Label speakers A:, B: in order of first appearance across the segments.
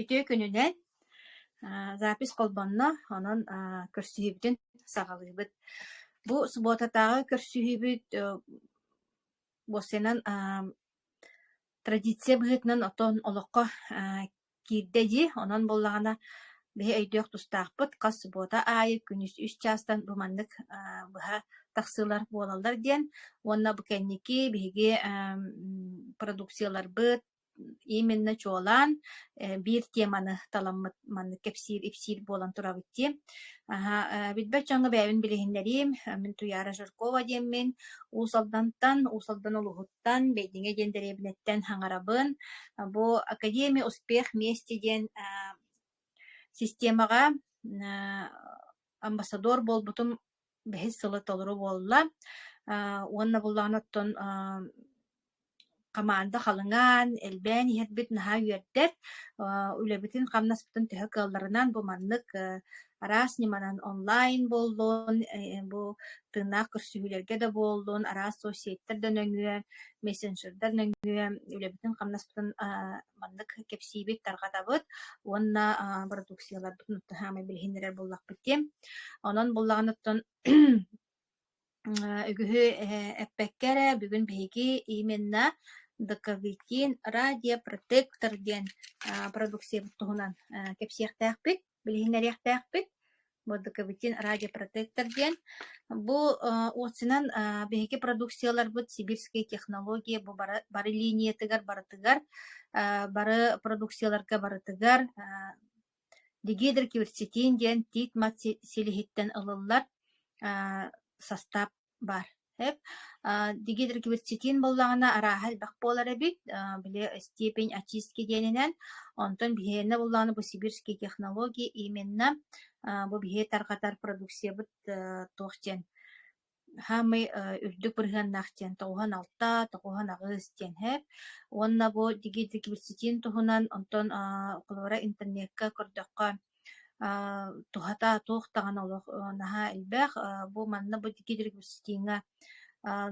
A: Үтүө күнүнэн! Аа, запись холбонно, онон аа, көрсүһүүбүтүн саҕалыыбыт. Бу субуотатааҕы көрсүһүүбүт э, уопсайынан аа, традиция быһыытынан оттон олоххо аа, Киирдэ дии, онон буоллаҕына биһи өйдүөх тустаахпыт, хас субуота аайы күнүс үс чаастан бу маннык аа быһа тахсыылар буолаллар диэн уонна бу кэнники биһиги эм продукцияларбыт именно чуолаан э, биир теманы таламмыт маннык кэпсиир-ипсиир буолан турабыт дии. Аһа, э, билбэт дьоҥҥо бэйэбин билиһиннэриим. Мин Туяра Жиркова диэммин. Уус Алдантан, Уус Алдан улууһуттан Тан Бэйдиҥэ диэн дэриэбинэттэн хаҥарабын. Бу Академия успех вместе диэн аа системаҕа аа амбассадор буолбутум бэһис сылы толору буолла. Аа уонна буллаҕына оттон аа хамаанда халыҥаан, элбээн иһэрбит наһаа үөрдэр. Аа үлэбитин-хамнаспытын төһө кыалларынан бу маннык, э, араас ньыманан онлайн буоллун, бу тыыннаах көрсүһүүлэргэ да буоллун, араас соцсеттэр да нөҥүө, мессенджердар нөҥүө үлэбитин-хамнаспытын маннык кэпсиибит, тарҕатабыт уонна бородууксуйаларбытын утта саамай билиһиннэрэр буоллахпыт диэн. Онон буллаҕыныттан үгүһү эппэккэ эрэ бүгүн биһиги именно Доковитин радиопротектор диэн продукциябыт туһунан кэпсиэхтээхпит, билиһиннэриэхтээхпит. Бу Доковитин радиопротектор диэн. Бу уотсунан биһиги продукцияларбыт сибирскэй технология бу бары линиятыгар барытыгар, бары продукцияларга барытыгар Дегидрокилцитин диэн тиит-мат силиһиттэн ылыллар састаап баар. Дегидрокилцитин буоллаҕына арааһа элбэх буолар эбит, били степень очистки диэнинэн. Онтон биһиэнэ буоллаҕына бу сибирские технологии именно бу биһиги тарҕатар продукциябыт туох диэн Саамай үрдүк бырыһыаннаах диэн тоҕуһан алта, тоҕуһан аҕыс диэн эһээт. Уонна бу дигидигибисситиин туһунан онтон холобура интернекка көрдөххө туһата туох даҕаны олох наһаа элбэх. Бу манна бу дигидигибисситииҥҥэ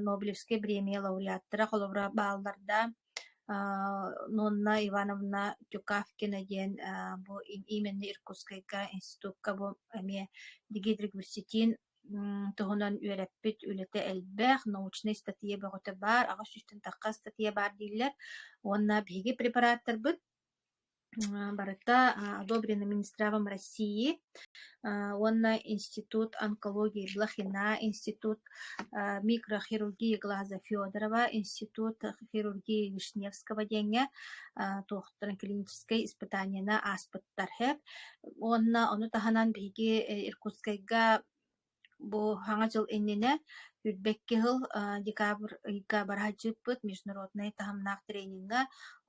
A: Нобелевскай премия лауреаттара холобура баалларда. Нонна Ивановна Тюкавкина диэн бу именно Иркутскайга институкка бу эмиэ дигидригибисситиин туһунан үөрэппит үлэтэ элбэх, научнай статья бөҕөтө баар, аҕыс сүүстэн тахха статья баар дииллэр уонна биһиги препараттарбыт барыта одобрено Минздравом России уонна Институт онкологии Блохина, Институт микрохирургии глаза Федорова, Институт хирургии Вишневского диэҥҥэ туохтан клиническэй испытаниена ааспыттар ХЭП уонна ону таһынан биһиги Иркутскайга бу Саҥа дьыл иннинэ үрбэкки сыл декабрь ыйга быраһадьыыппыт международнай таһымнаах тренингэ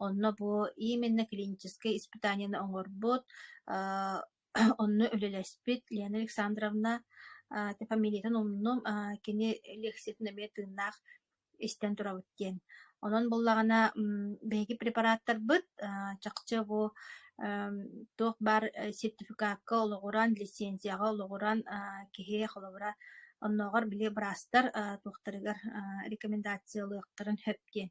A: онно бу именно клиническэй испытаниены оҥорбут Онно үлэлэспит Лена Александровна, аа фамилиятын умнум, аа кини лиэксийэтин эмиэ тыыннаах истэн турабыт диэн. Онон буоллаҕына, м, биһиги препараттарбыт, аа чахчы бу, эм, туох баар, э, сертификатка олоҕуран, лиссиэнсийэҕэ олоҕуран, аа киһи холобура оннооҕор били быраастар, аа туохтарыгар, аа рекомендациялыахтарын сөп диэн.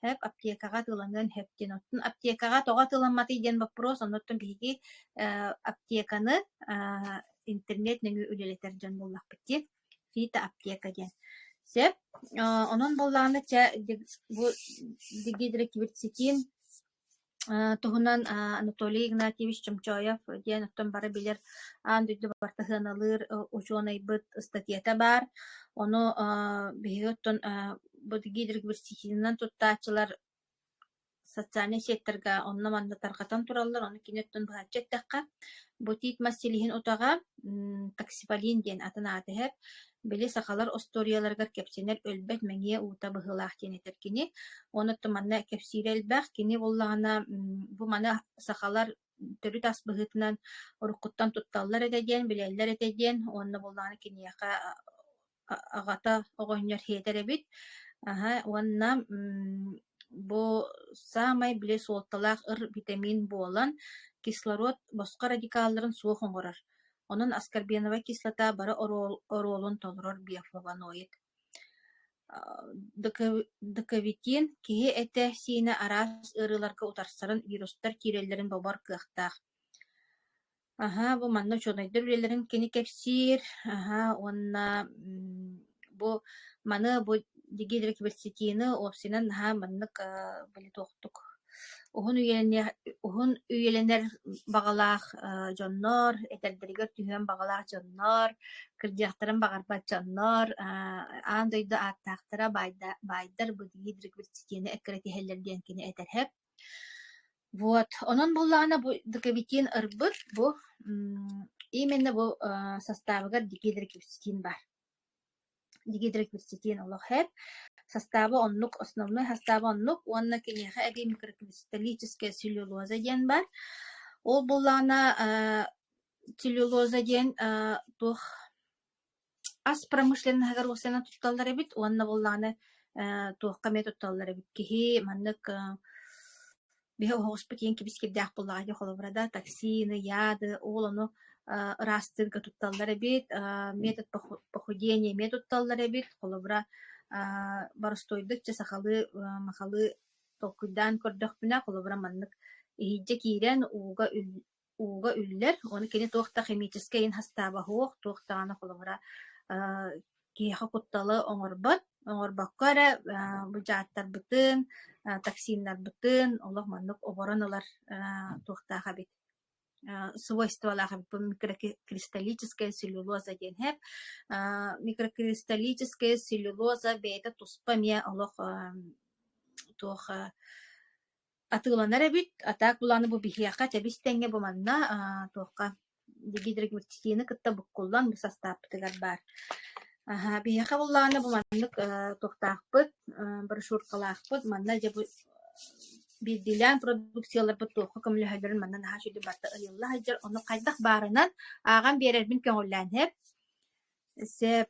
A: Сөп, аптекаҕа атыыланыан сөп диэн. Оттон аптекаҕа тоҕо атыыламматый диэн боппуруос, оннуттан биһиги аптеканы интернет нөҥүө үлэлэтэр дьон буоллахпыт дии фито аптека диэн сөп онон буоллаҕына чэ бу дигидроклеветситин туһунан Анатолий Игнатьевич Чомчоев диэн оттон бары билэр аан дойду бартаһыаналыыр учуонайбыт ыстатыйата баар ону биһиги оттон бу гидрогиверситетинэн туттааччылар социальнай сеттарга онно-манна тарҕатан тураллар, ону кини оттон быһаччы эттэххэ, Бутик мас силиһин утаҕа м таксиполин диэн атын ааты иһэр. Били сахалар остуоруйаларыгар кэпсэнэр өлбөт мэҥиэ уута быһыылаах диэн этэр кини. Ону оттон манна кэпсиирэ элбэх. Кини буоллаҕына м бу маны сахалар төрүт ас быһыытынан уруккуттан тутталлар этэ диэн, билэллэр этэ диэн, уонна буоллаҕына киниэхэ Аҕата оҕонньор хиэтэр эбит. Аһа уонна бу саамай били суолталаах ыр битэмиин буолан кислород босхо радикалларын суох оҥорор. Онон аскорбиновая кислота бары оруолун толорор биофлавоноид. Дыковитин киһи этэ-сиинэ араас ыарыыларга утарсарын, вирустар киирэллэрин бобор кыахтаах. Аһаа, бу манна учуонайдар үлэлэрин кини кэпсиир. Аһаа, уонна м, бу маны бу Дигидра Киберсетины уопсайынан наһаа маннык э, билитуохтук уһун үйэлэниэх уһун үйэлэнэр баҕалаах э, дьоннор, этэрдэригэр түһүөн баҕалаах дьоннор, кырдьыахтарын баҕарбат дьоннор, э, аан дойду ааттаахтара баайда- баайдар бу Дигидра Киберсетины эккирэтиһэллэр диэн кини этэрһэп. Вот, онон буоллаҕына бу декабитин ырбыт бу именно бу састаабыгар дигидрокипстин бар. Дигидрокипстин олох хэп. Састааба оннук, основной састааба оннук уонна киниэхэ эбии микрокристаллическая целлюлоза диэн бар. Ол буоллаҕына целлюлоза диэн туох ас промышленноһыгар уопсайынан тутталлар эбит уонна буоллаҕына ээ туохха эмиэ тутталлар эбит киһи маннык аа биһи оһоҕоспут иһин кибискирдээх буоллаҕа ити холобура да таксины яды ол ону аа ыраастыырга тутталлар эбит аа метод поху похудения эмиэ тутталлар эбит холобура аа боростуойдук чэ сахалыы аа махалы толкуйдаан көрдөхпүнэ холобура маннык иһирдьэ киирэн ууга үл ууга үллэр, уонна кини туох да химическэй ин-хастааба суох, туох даҕаны холобура аа киһиэхэ кутталы оҥорбот, оҥорбокко эрэ аа бу дьааттарбытын, аа токсиннарбытын олох маннык оборон ылар аа туохтаах эбит аа свойстволаах эбит микрокристаллическая целлюлоза диэн эһэр аа микрокристаллическая целлюлоза бэйэтэ туспа эмиэ олох аа туох аа Атыыланар эбит, а так былааны бу биһиэхэ тэбис тэҥҥэ бу манна аа, туохха гидрогипситины кытта буккуллан бу састааппытыгар баар. Аһа, биһиэхэ буллаҕына бу маннык э, туохтаахпыт, э, брошюркалаахпыт, манна дьэ бу биирдиилээн продукцияларбыт туохха көмөлөһөллөрүн манна наһаа сүдү барта ыйылла сылдьар. Ону хайдах баарынан ааҕан биэрэрбин көҥүллээн сэп. Сөп.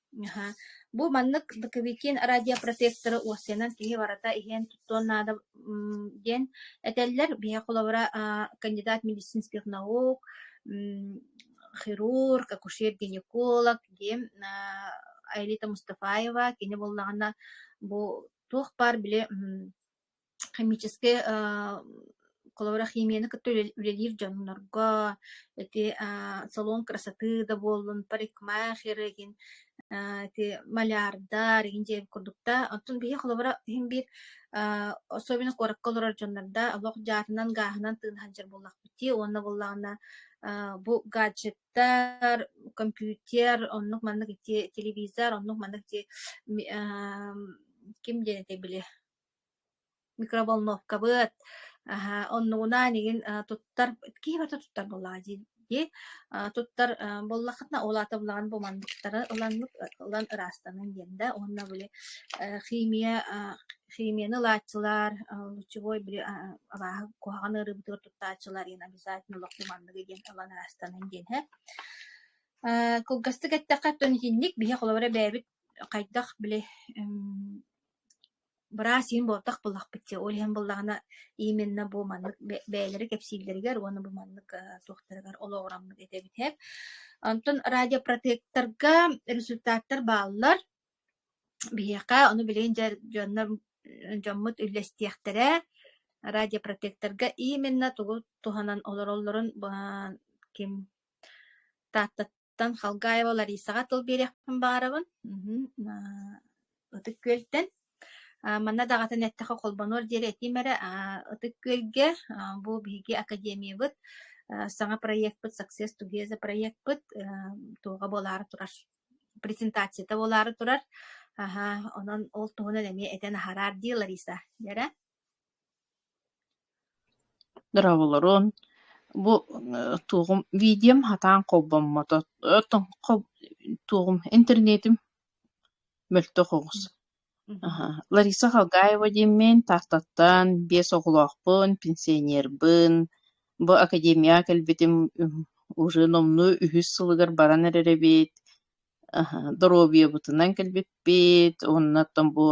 A: Аһа. Бу маннык Лыковикин радиопротекторы уоссанан киһи барыта иһэн туттуон наада м, диэн этэллэр. Биһиэхэ холобура а, кандидат медицинских наук, м, хирург, акушер-гинеколог диэн а, Аэлита Мустафаева кини буоллаҕына бу туох баар били м, химическэй аа коловрахимияны кытта үлэ үлэлиир дьоннорго ити аа салон красоты да буоллун парикмахер игин аа ити малярдар игин диэн курдук да оттон биһиги холобура иһин биир аа особенно куоракка олорор дьоннордо олох дьаатынан гааһынан тыына сылдьар буоллахпыт дии уонна буоллаҕына аа бу гаджеттар компьютер оннук маннык ити телевизор оннук маннык ити ми аа ким диэн этэй били микроволновкабыт оннугунаан игин туттар киһи барыта туттар буоллаҕа дии туттар буоллаххытына ол аата булаҕын бу манныктары ылаҥҥыт ылан ыраастаныҥ диэн да уонна били химия химияны ылааччылар лучевой били абааһы куһаҕан ыарыыбытыгар туттааччылар иһин обязательно лохпу манныгы диэн ылан ыраастаныҥ диэн кылгастык эттэххэ оттон итинник биһи холобура бэйэбит хайдах били быраас иһин буолбатах буллахпыт дии ол иһин буллаҕына именна бу маннык бэйэлэрэ кэпсииллэригэр уонна бу маннык туохтарыгар олоҕураммыт этэ эбитэ онтон радиопротектарга результаттар бааллар биһиэхэ ону билигин дьэ дьоннор дьоммут үллэстиэхтэрэ радиопротекторга именна тугу туһанан олороллорун ким таатта Тан Халгаева Ларисаҕа тыл биэриэхпин баҕарабын. Мгм. Аа, Ытык Күөлтэн. А, манна даҕатан эттэхэ холбонуор диэри этиим эрэ а, Ытык Күөлгэ а, бу биһиги академиябыт а, саҥа проекпыт Success Together проекпыт а, туоҕа буолаары турар. Презентацията буолаары турар. Аһа, онон ол туһунан эмиэ этэн аһараар дии Лариса. Дэрэ? Дорооболорун, бу туоҕум видеом сатаан холбоммото туоҕум интернетим мөлтөх оҕус аха Лариса Халгаева диэммин Тааттаттан биэс оҕолоохпун пенсионербын бу академияҕа кэлбитим уже номнуо үһүс сылыгар баран эрэр эбит доруобуйабытынан кэлбиппит уонна оттон бу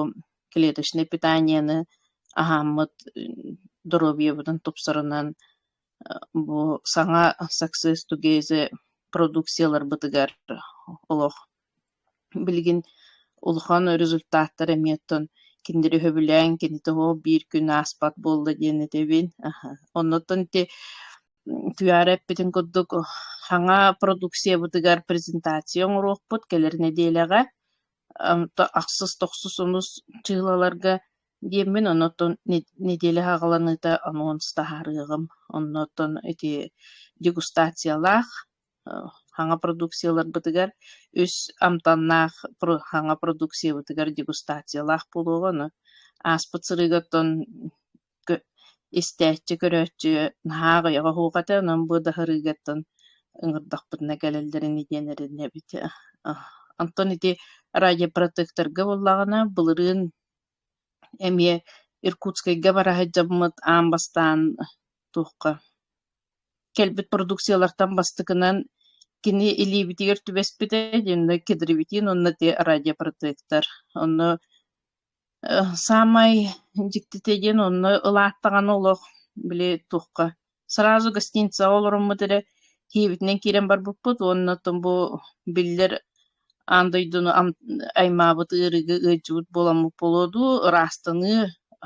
A: клеточнай питанияны аһааммыт доруобуйабытын тупсарынан бу саҥа success together продукцияларбытыгар олох билигин улахан результаттар эмиэ оттон кинилэри өһөбүлээн кини тоҕо биир күн ааспат буолла диэн этэбин аха онно оттон ити Утуйаары эппитин курдук саҥа продукциябытыгар презентация оҥоруохпут кэлэр нэдиэлэҕэ. Ахсыс-тохсус онус чыылаларга диэммин, оннуттан нэдиэлэ саҕаланыыта анонс таһаарыаҕым. Оннуттан ити дегустациялаах саҥа продукцияларбытыгар үс амтаннаах саҥа продукциябытыгар дегустациялаах буолуоҕа. Аны ааспыт сырыыгыттан истээччи көрөөччү наһаа аҕыйаҕа оһуохата онон бу даһырыыгаттан ыҥырдахпытына кэлэллэрин диэн эрэнэбит Онтон ити радиопротекторга буоллаҕына былырыын эмиэ Иркутскайга бара сылдьаммыт аан бастаан туохха кэлбит продукциялартан бастакынан кини илиибитигэр түбэспитэ онно кедровитин уонна радиопротектор онно Саамай дьиктитэ диэн онно ылаат даҕаны олох били туохха сразу гостиницаҕа олороммут эрэ киэбитинэн киирэн барбыппыт уонна оттон бу биллэр аан дойдуну аймаабыт ыарыыга ыалдьыбыт буоламмыт буолуо дуу, ыраастаныы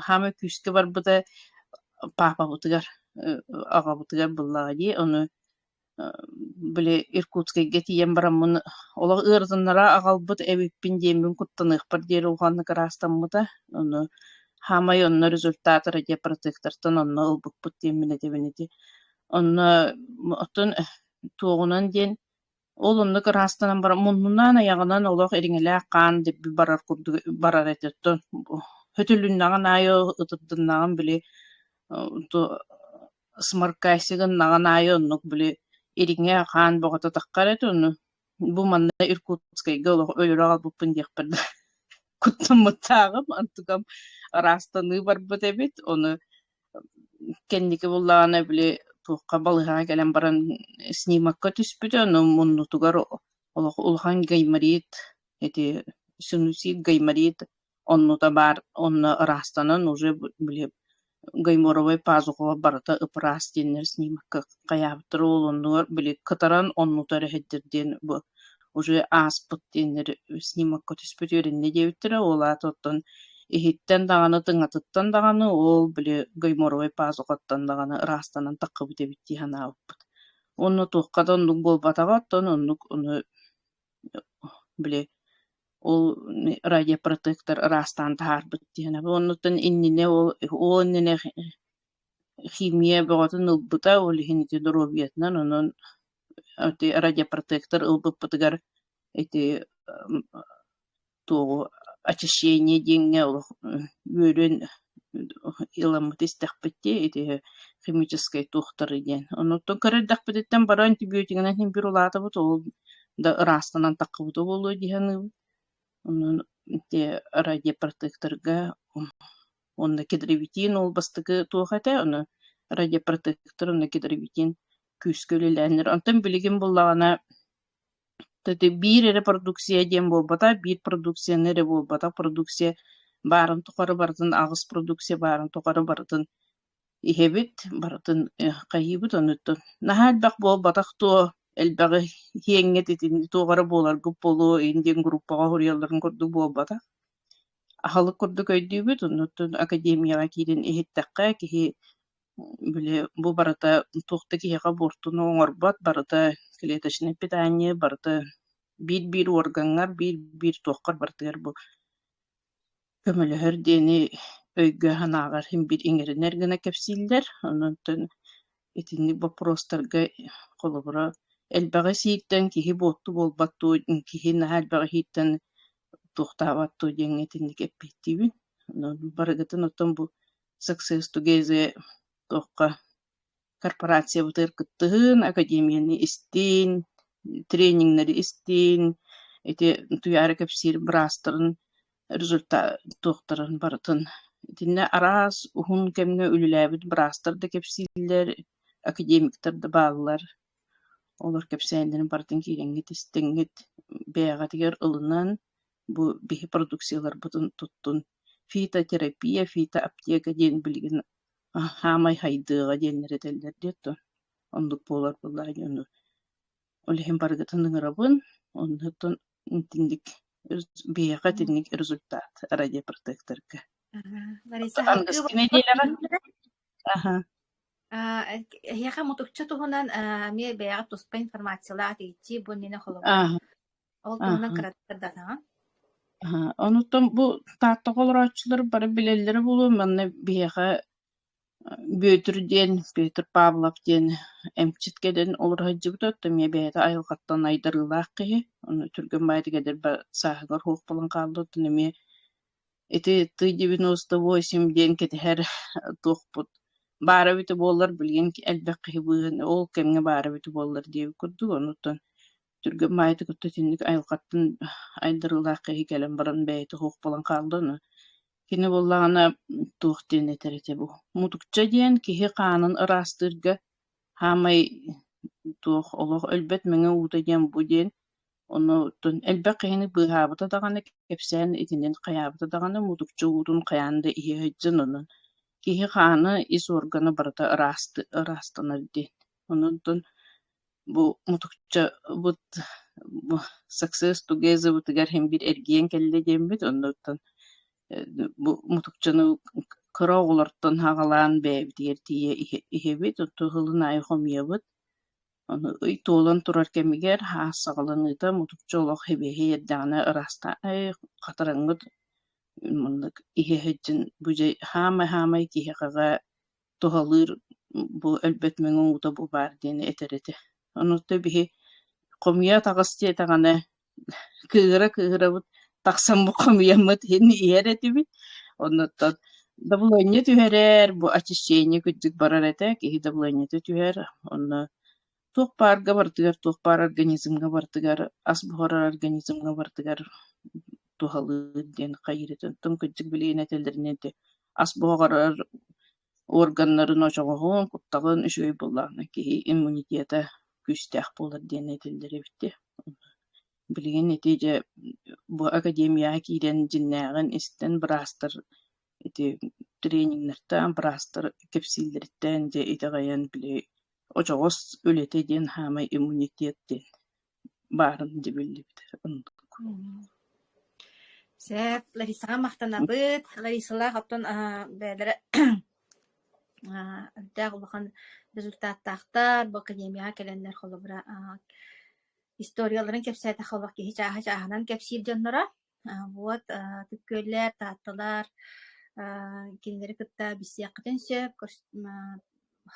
A: хаамыы күүскэ барбыта паапабытыгар, аҕабытыгар буллаҕа дии, ону били Иркутскайга тиийэн бараммын олох ыарытыннара аҕалбыт эбиппин диэммин куттаныахпар диэри улаханнык ыраастаммыта. Ону хаамай онно результатора диэн протектортан онно ылбыппыт диэммин этэбин ити. Онно оттон туоҕунан диэн ол оннук ыраастанан баран муннунаан айаҕынан олох ириҥэлээх хаан дирби барар курдук барар этэ. Оттон хөтөлүннэҕин аайы ытырдыннаҕым били сморкасига гыннаҕын аайы оннук били ириҥэ хаан боҕототахха эрэ ити ону бу манна Иркутскайга олох өлөрө аҕалбыппын диэхпэр да куттаммыттааҕым онтукам ыраастаныы барбыт эбит ону кэнники буллаҕына били туохха балыыһаҕа кэлэн баран снимокка түспүтэ ону муннутугар олох улахан гайморит эти синусит гайморит Оннута баар онно ыраастанан уже били гайморовай пазухаҕа барыта ып-ыраас диэннэр снимокка хайаабыттар ол оннугар били кытаран оннута эрэ иһэрдэр диэн бу уже ааспыт диэннэр снимокка түспүт үөрэннэ диэбиттэрэ ол аата оттон иһиттэн даҕаны тыҥатыттан даҕаны ол били гайморовай пазухаттан даҕаны ыраастанан таххыбыт эбит дии санаабыппыт. Онно туохха да оннук буолбатаҕа оттон оннук ону били ол радиопротектор ыраастаан таһаарбыт диэнэбин оннуттан иннинэ ол ол иннинэ химия бөҕөтүн ылбыта ол иһин ити доруобуйатынан онон ити радиопротектор ылбыппытыгар ити туоҕу очищение диэҥҥэ олох үөрүөн ыламмыт истэхпит дии ити химическэй туохтарый диэн оннуктан көрөрдөхпүтүттэн бары антибиотигынан иһин биир улаатабыт ол да ыраастанан таххыбыта буолуо дии саныыбын онон ити радиопротекторга уонна кедровитин ол бастакы туох этэ ону радиопротектор уонна кедровитин күүскэ үлэлээннэр онтон билигин буоллаҕына Биир эрэ продукция диэн буолбата, биир продукцияны эрэ буолбатах продукция баарын тухары барытын аҕыс продукция баарын тухары барытын иһэбит, барытын хайыыбыт оннуттан. Наһаа элбэх буолбатах дуо, элбэҕи иһиэҥҥит итини туох эрэ буоларгыт буолуо, ин диэн группаҕа суруйалларын курдук буолбатах. Аһылык курдук өйдүүбүт, оннуттан академияҕа киирэн иһиттэххэ, киһи Били бу барыта туох да киһиэхэ буортуну оҥорбот, барыта клеточнай питание, барыта биир-биир уоргаҥҥар, биир-биир туоххар барытыгар бу көмөлөһөр диэни өйгө-санааҕар имбир иҥэринэр гына кэпсииллэр. Онтон итинник боппуруостарга холобура элбэҕи сииртэн киһи буорту буолбат дуо, киһи наһаа элбэҕи иһииртэн туохтаабат дуо диэҥҥэ итинник эппиэттиибин. Барыгытын оттон бу Success Together туохха корпорациябытыгар кыттыһын, академияны истин, тренингнэри истин, ити утуйаары кэпсиир быраастарын результат туохтарын барытын. Итиннэ араас уһун кэмҥэ үлэлээбит быраастар да кэпсииллэр, академиктар да бааллар. Олор кэпсээннэрин барытын киирэҥҥит, истиҥҥит бэйэҕитигэр ылынан Бу биһи продукцияларбытын туттун, фитотерапия, фитоаптека диэн билигин саамай сайдыаҕа диэннэр этэллэр диэт дуо, оннук буолар буоллаҕа дии ону. Ол иһин барыгытын ыҥырабын, оннуттан итинник биһиэхэ итинник результат радиопротекторга. Лариса, аһыҥ. Аһаҥҥыскы нэдиэлэҕэ. Аха. А, эһиэхэ мутукча туһунан а, эмиэ бэйэҕэ туспа информациялаах иһитии бу иннинэ холобур. Ааһа, Ол туһунан ааһа. кыратык даҕаһын. Аһа, онуттан бу Таатта олорооччулар бары билэллэрэ буолуо, манна биһиэхэ Бүөтүр диэн, Петр Павлов диэн эмчит кэлэн олоро сылдьыбыта, оттон эмиэ бэйэтэ айылҕаттан айдарыылаах киһи, ону түргэн баайытык эдэр ба сааһыгар суох буолан хаалла, оттон эмиэ ити тый девяносто восемь диэн кэтэһэр туохпут баара эбитэ буоллар билигин элбэх киһи быыһын ол кэмҥэ баара эбитэ буоллар диэбит курдук онуттан түргэн баайыта кытта итинник айылҕаттан айдарыылаах киһи кэлэн баран бэйэтэ суох буолан хаалда аны кини буоллаҕына туох диэн этэр этэ бу мутукча диэн киһи хаанын ыраастыырга хаамай туох олох өлбөт мэҥэ уута диэн бу диэн Оннуттан элбэх киһини быыһаабыта даҕаны, кэпсээн итинэн хайаабыта даҕаны, мутукчу уутун хайаан да иһэ сылдьан онон киһи хаана ис уоргана барыта ырааста ыраастанар диэн. Онтон бу мутукчабыт бу success togetherбытыгар син биир эргийэн кэллэ диэммит, оннуттан э, бу мутукчаны кыра оҕолортон хаҕалаан бэйэбитигэр тиийэ иһэ иһэбит, оттон сылын аайы хомуйабыт. Ону ый туолан турар кэмигэр һаас саҕаланыыта мутукча олох һибиэһи иэрдэҕинэ ыраастаа эй хатараҥҥыт муннук иһэ сылдьын бу дьэ хаамай-хаамай киһиэхэ туһалыыр бу өлбөт мөҥү уута бу баар диэни этэр этэ. Онуотту биһи хомуйа атаҕас диэтэҕинэ кыыра кыыһырабыт тахсан хомуйаммыт иһин иһэр этибит оннуттан дабылыанньа түһэрэр бу очищение кырдьык барар этэ киһи дабылыанньата түһэр онно туох баарга барытыгар туох баар организмҥа барытыгар ас буһарар организмҥа барытыгар туһалыыр диэн хайыыр этэ оттон кырдьык билигин этэллэринэ ити ас буһарар органнарын очоҕоһун, кутталын үчүгэй буллаҕына киһи иммунитета күүстээх буолар диэн этиллэр эбитэ. Билигин ити дьэ бу академияҕа киирэн дьиннээҕин истэн быраастар ити тренингнартан быраастар кэпсииллэриттэн дьэ итэҕэйэн били очоҕос үлэтэ диэн хаамай иммунитет диэн баарын дьэ биллибит Сеп, Ларисаҕа махтанабыт. Ларисалаах оттон бэйэлэрэ өрдөөх улахан результаттаахтар. Бу академияҕа кэлэннэр холобура историяларын кэпсээтэх олох киһи чааһы чааһынан кэпсиир дьонноро. Вот күөллэр, Таатталар кинилэри кытта билсиэххитин сөп.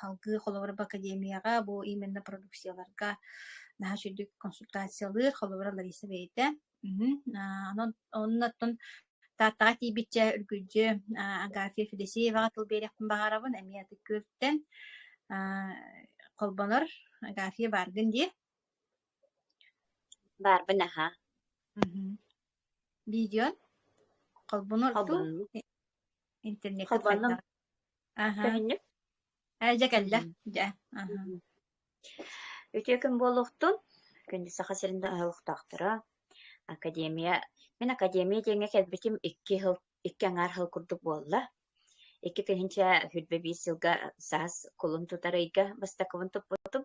A: Салгыы Холобур академияҕа бу именно продукцияларга наһаа үчүгэй консультациялыыр Холобура Лариса бэйэтэ. Онон оннуттан Тааттаҕа тиийбиччэ үргүлдьү Агафья Федосееваҕа тыл биэриэхпин баҕарабын эмиэ аты күөлтэн холбонор Агафья бааргын дии Баарбы наһаа Видеон холбонор дуу холбонуу интернеккэ холбонном сайдар аха көһүннүк ээ дьэ кэллэ дьэ аха үтүө күн буолуохтун күндү саха сирин да ыһылыктаахтара академия мин академия диэҥҥэ кэлбитим икки икки аҥаар сыл курдук буолла. Икки тыһыынча сүүрбэ биир сылга саас кулун тутар ыйга бастакыбын туппутум.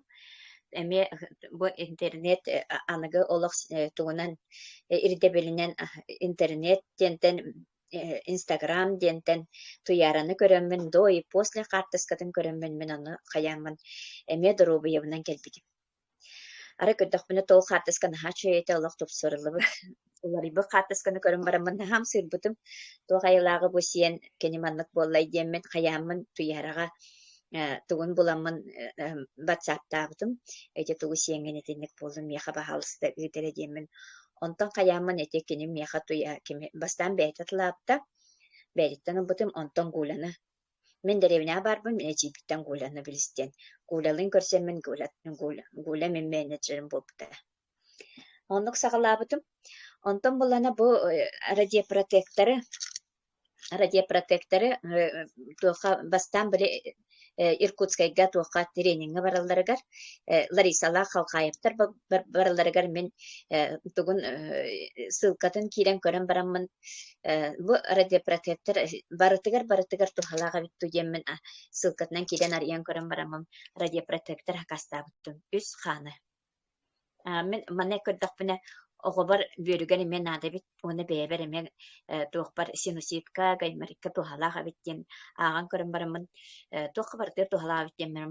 A: Эмиэ бу интернет аныгы олох тугунан ирдэбилинэн интернет диэнтэн Инстаграм диэнтэн туйаараны көрөммүн, до и после хаартыскатын көрөммүн, мин ону хайааммын эмиэ доруобуйабынан кэлбитим Арай көрдөхпүнэ тыл хаартыска наһаа үчүгэй этэ олох тупсарыллыбыт. Уларыйбыт хаартысканы көрөн бараммын наһаа ымсыырбытым. Туох айылааҕы бу сиэн кини маннык буоллай диэммин, хайааммын Туйараҕа э, тугун буламмын э, эм, ватсаптаабытым. Ити тугу сиэҥҥин итинник буоллун миэхэ баһаалыста ыытара диэммин. Онтон хайааммын ити кини миэхэ Туйа кими бастаан бэйэтэ тылаабыта, бэйэтиттэн ылбытым, онтон Гуляна. Мин дэриэбинэҕэ баарбын, мин эдьиийбиттэн Гуляны билистиэн. Гулялыын көрсөммүн Гуля, Гуля, Гуля мин менеджерим буолбута. Оннук саҕалаабытым. Онтон булана бу э, радиопротекторы радиопротекторы э, туохха бастаан били э, Иркутскайга туохха трениҥҥэ баралларыгар Ларисалаах Халхаевтар баралларыгар мин тугун ссылкатын киирэн көрөн бараммын бу радиопротектор барытыгар барытыгар туһалаах эбит дуу диэммин ссылкатынан киирэн арыйан көрөн бараммын радиопротектор акастаабыттым үс хааны мин манна көрдөхпүнэ оҕобор бүөрүгэр эмиэ наада эбит уонна бэйэбэр эмиэ туохпар синуситка гайморитка туһалаах эбит диэн ааҕан көрөн бараммын туохха барытыгар туһалаах эбит диэммин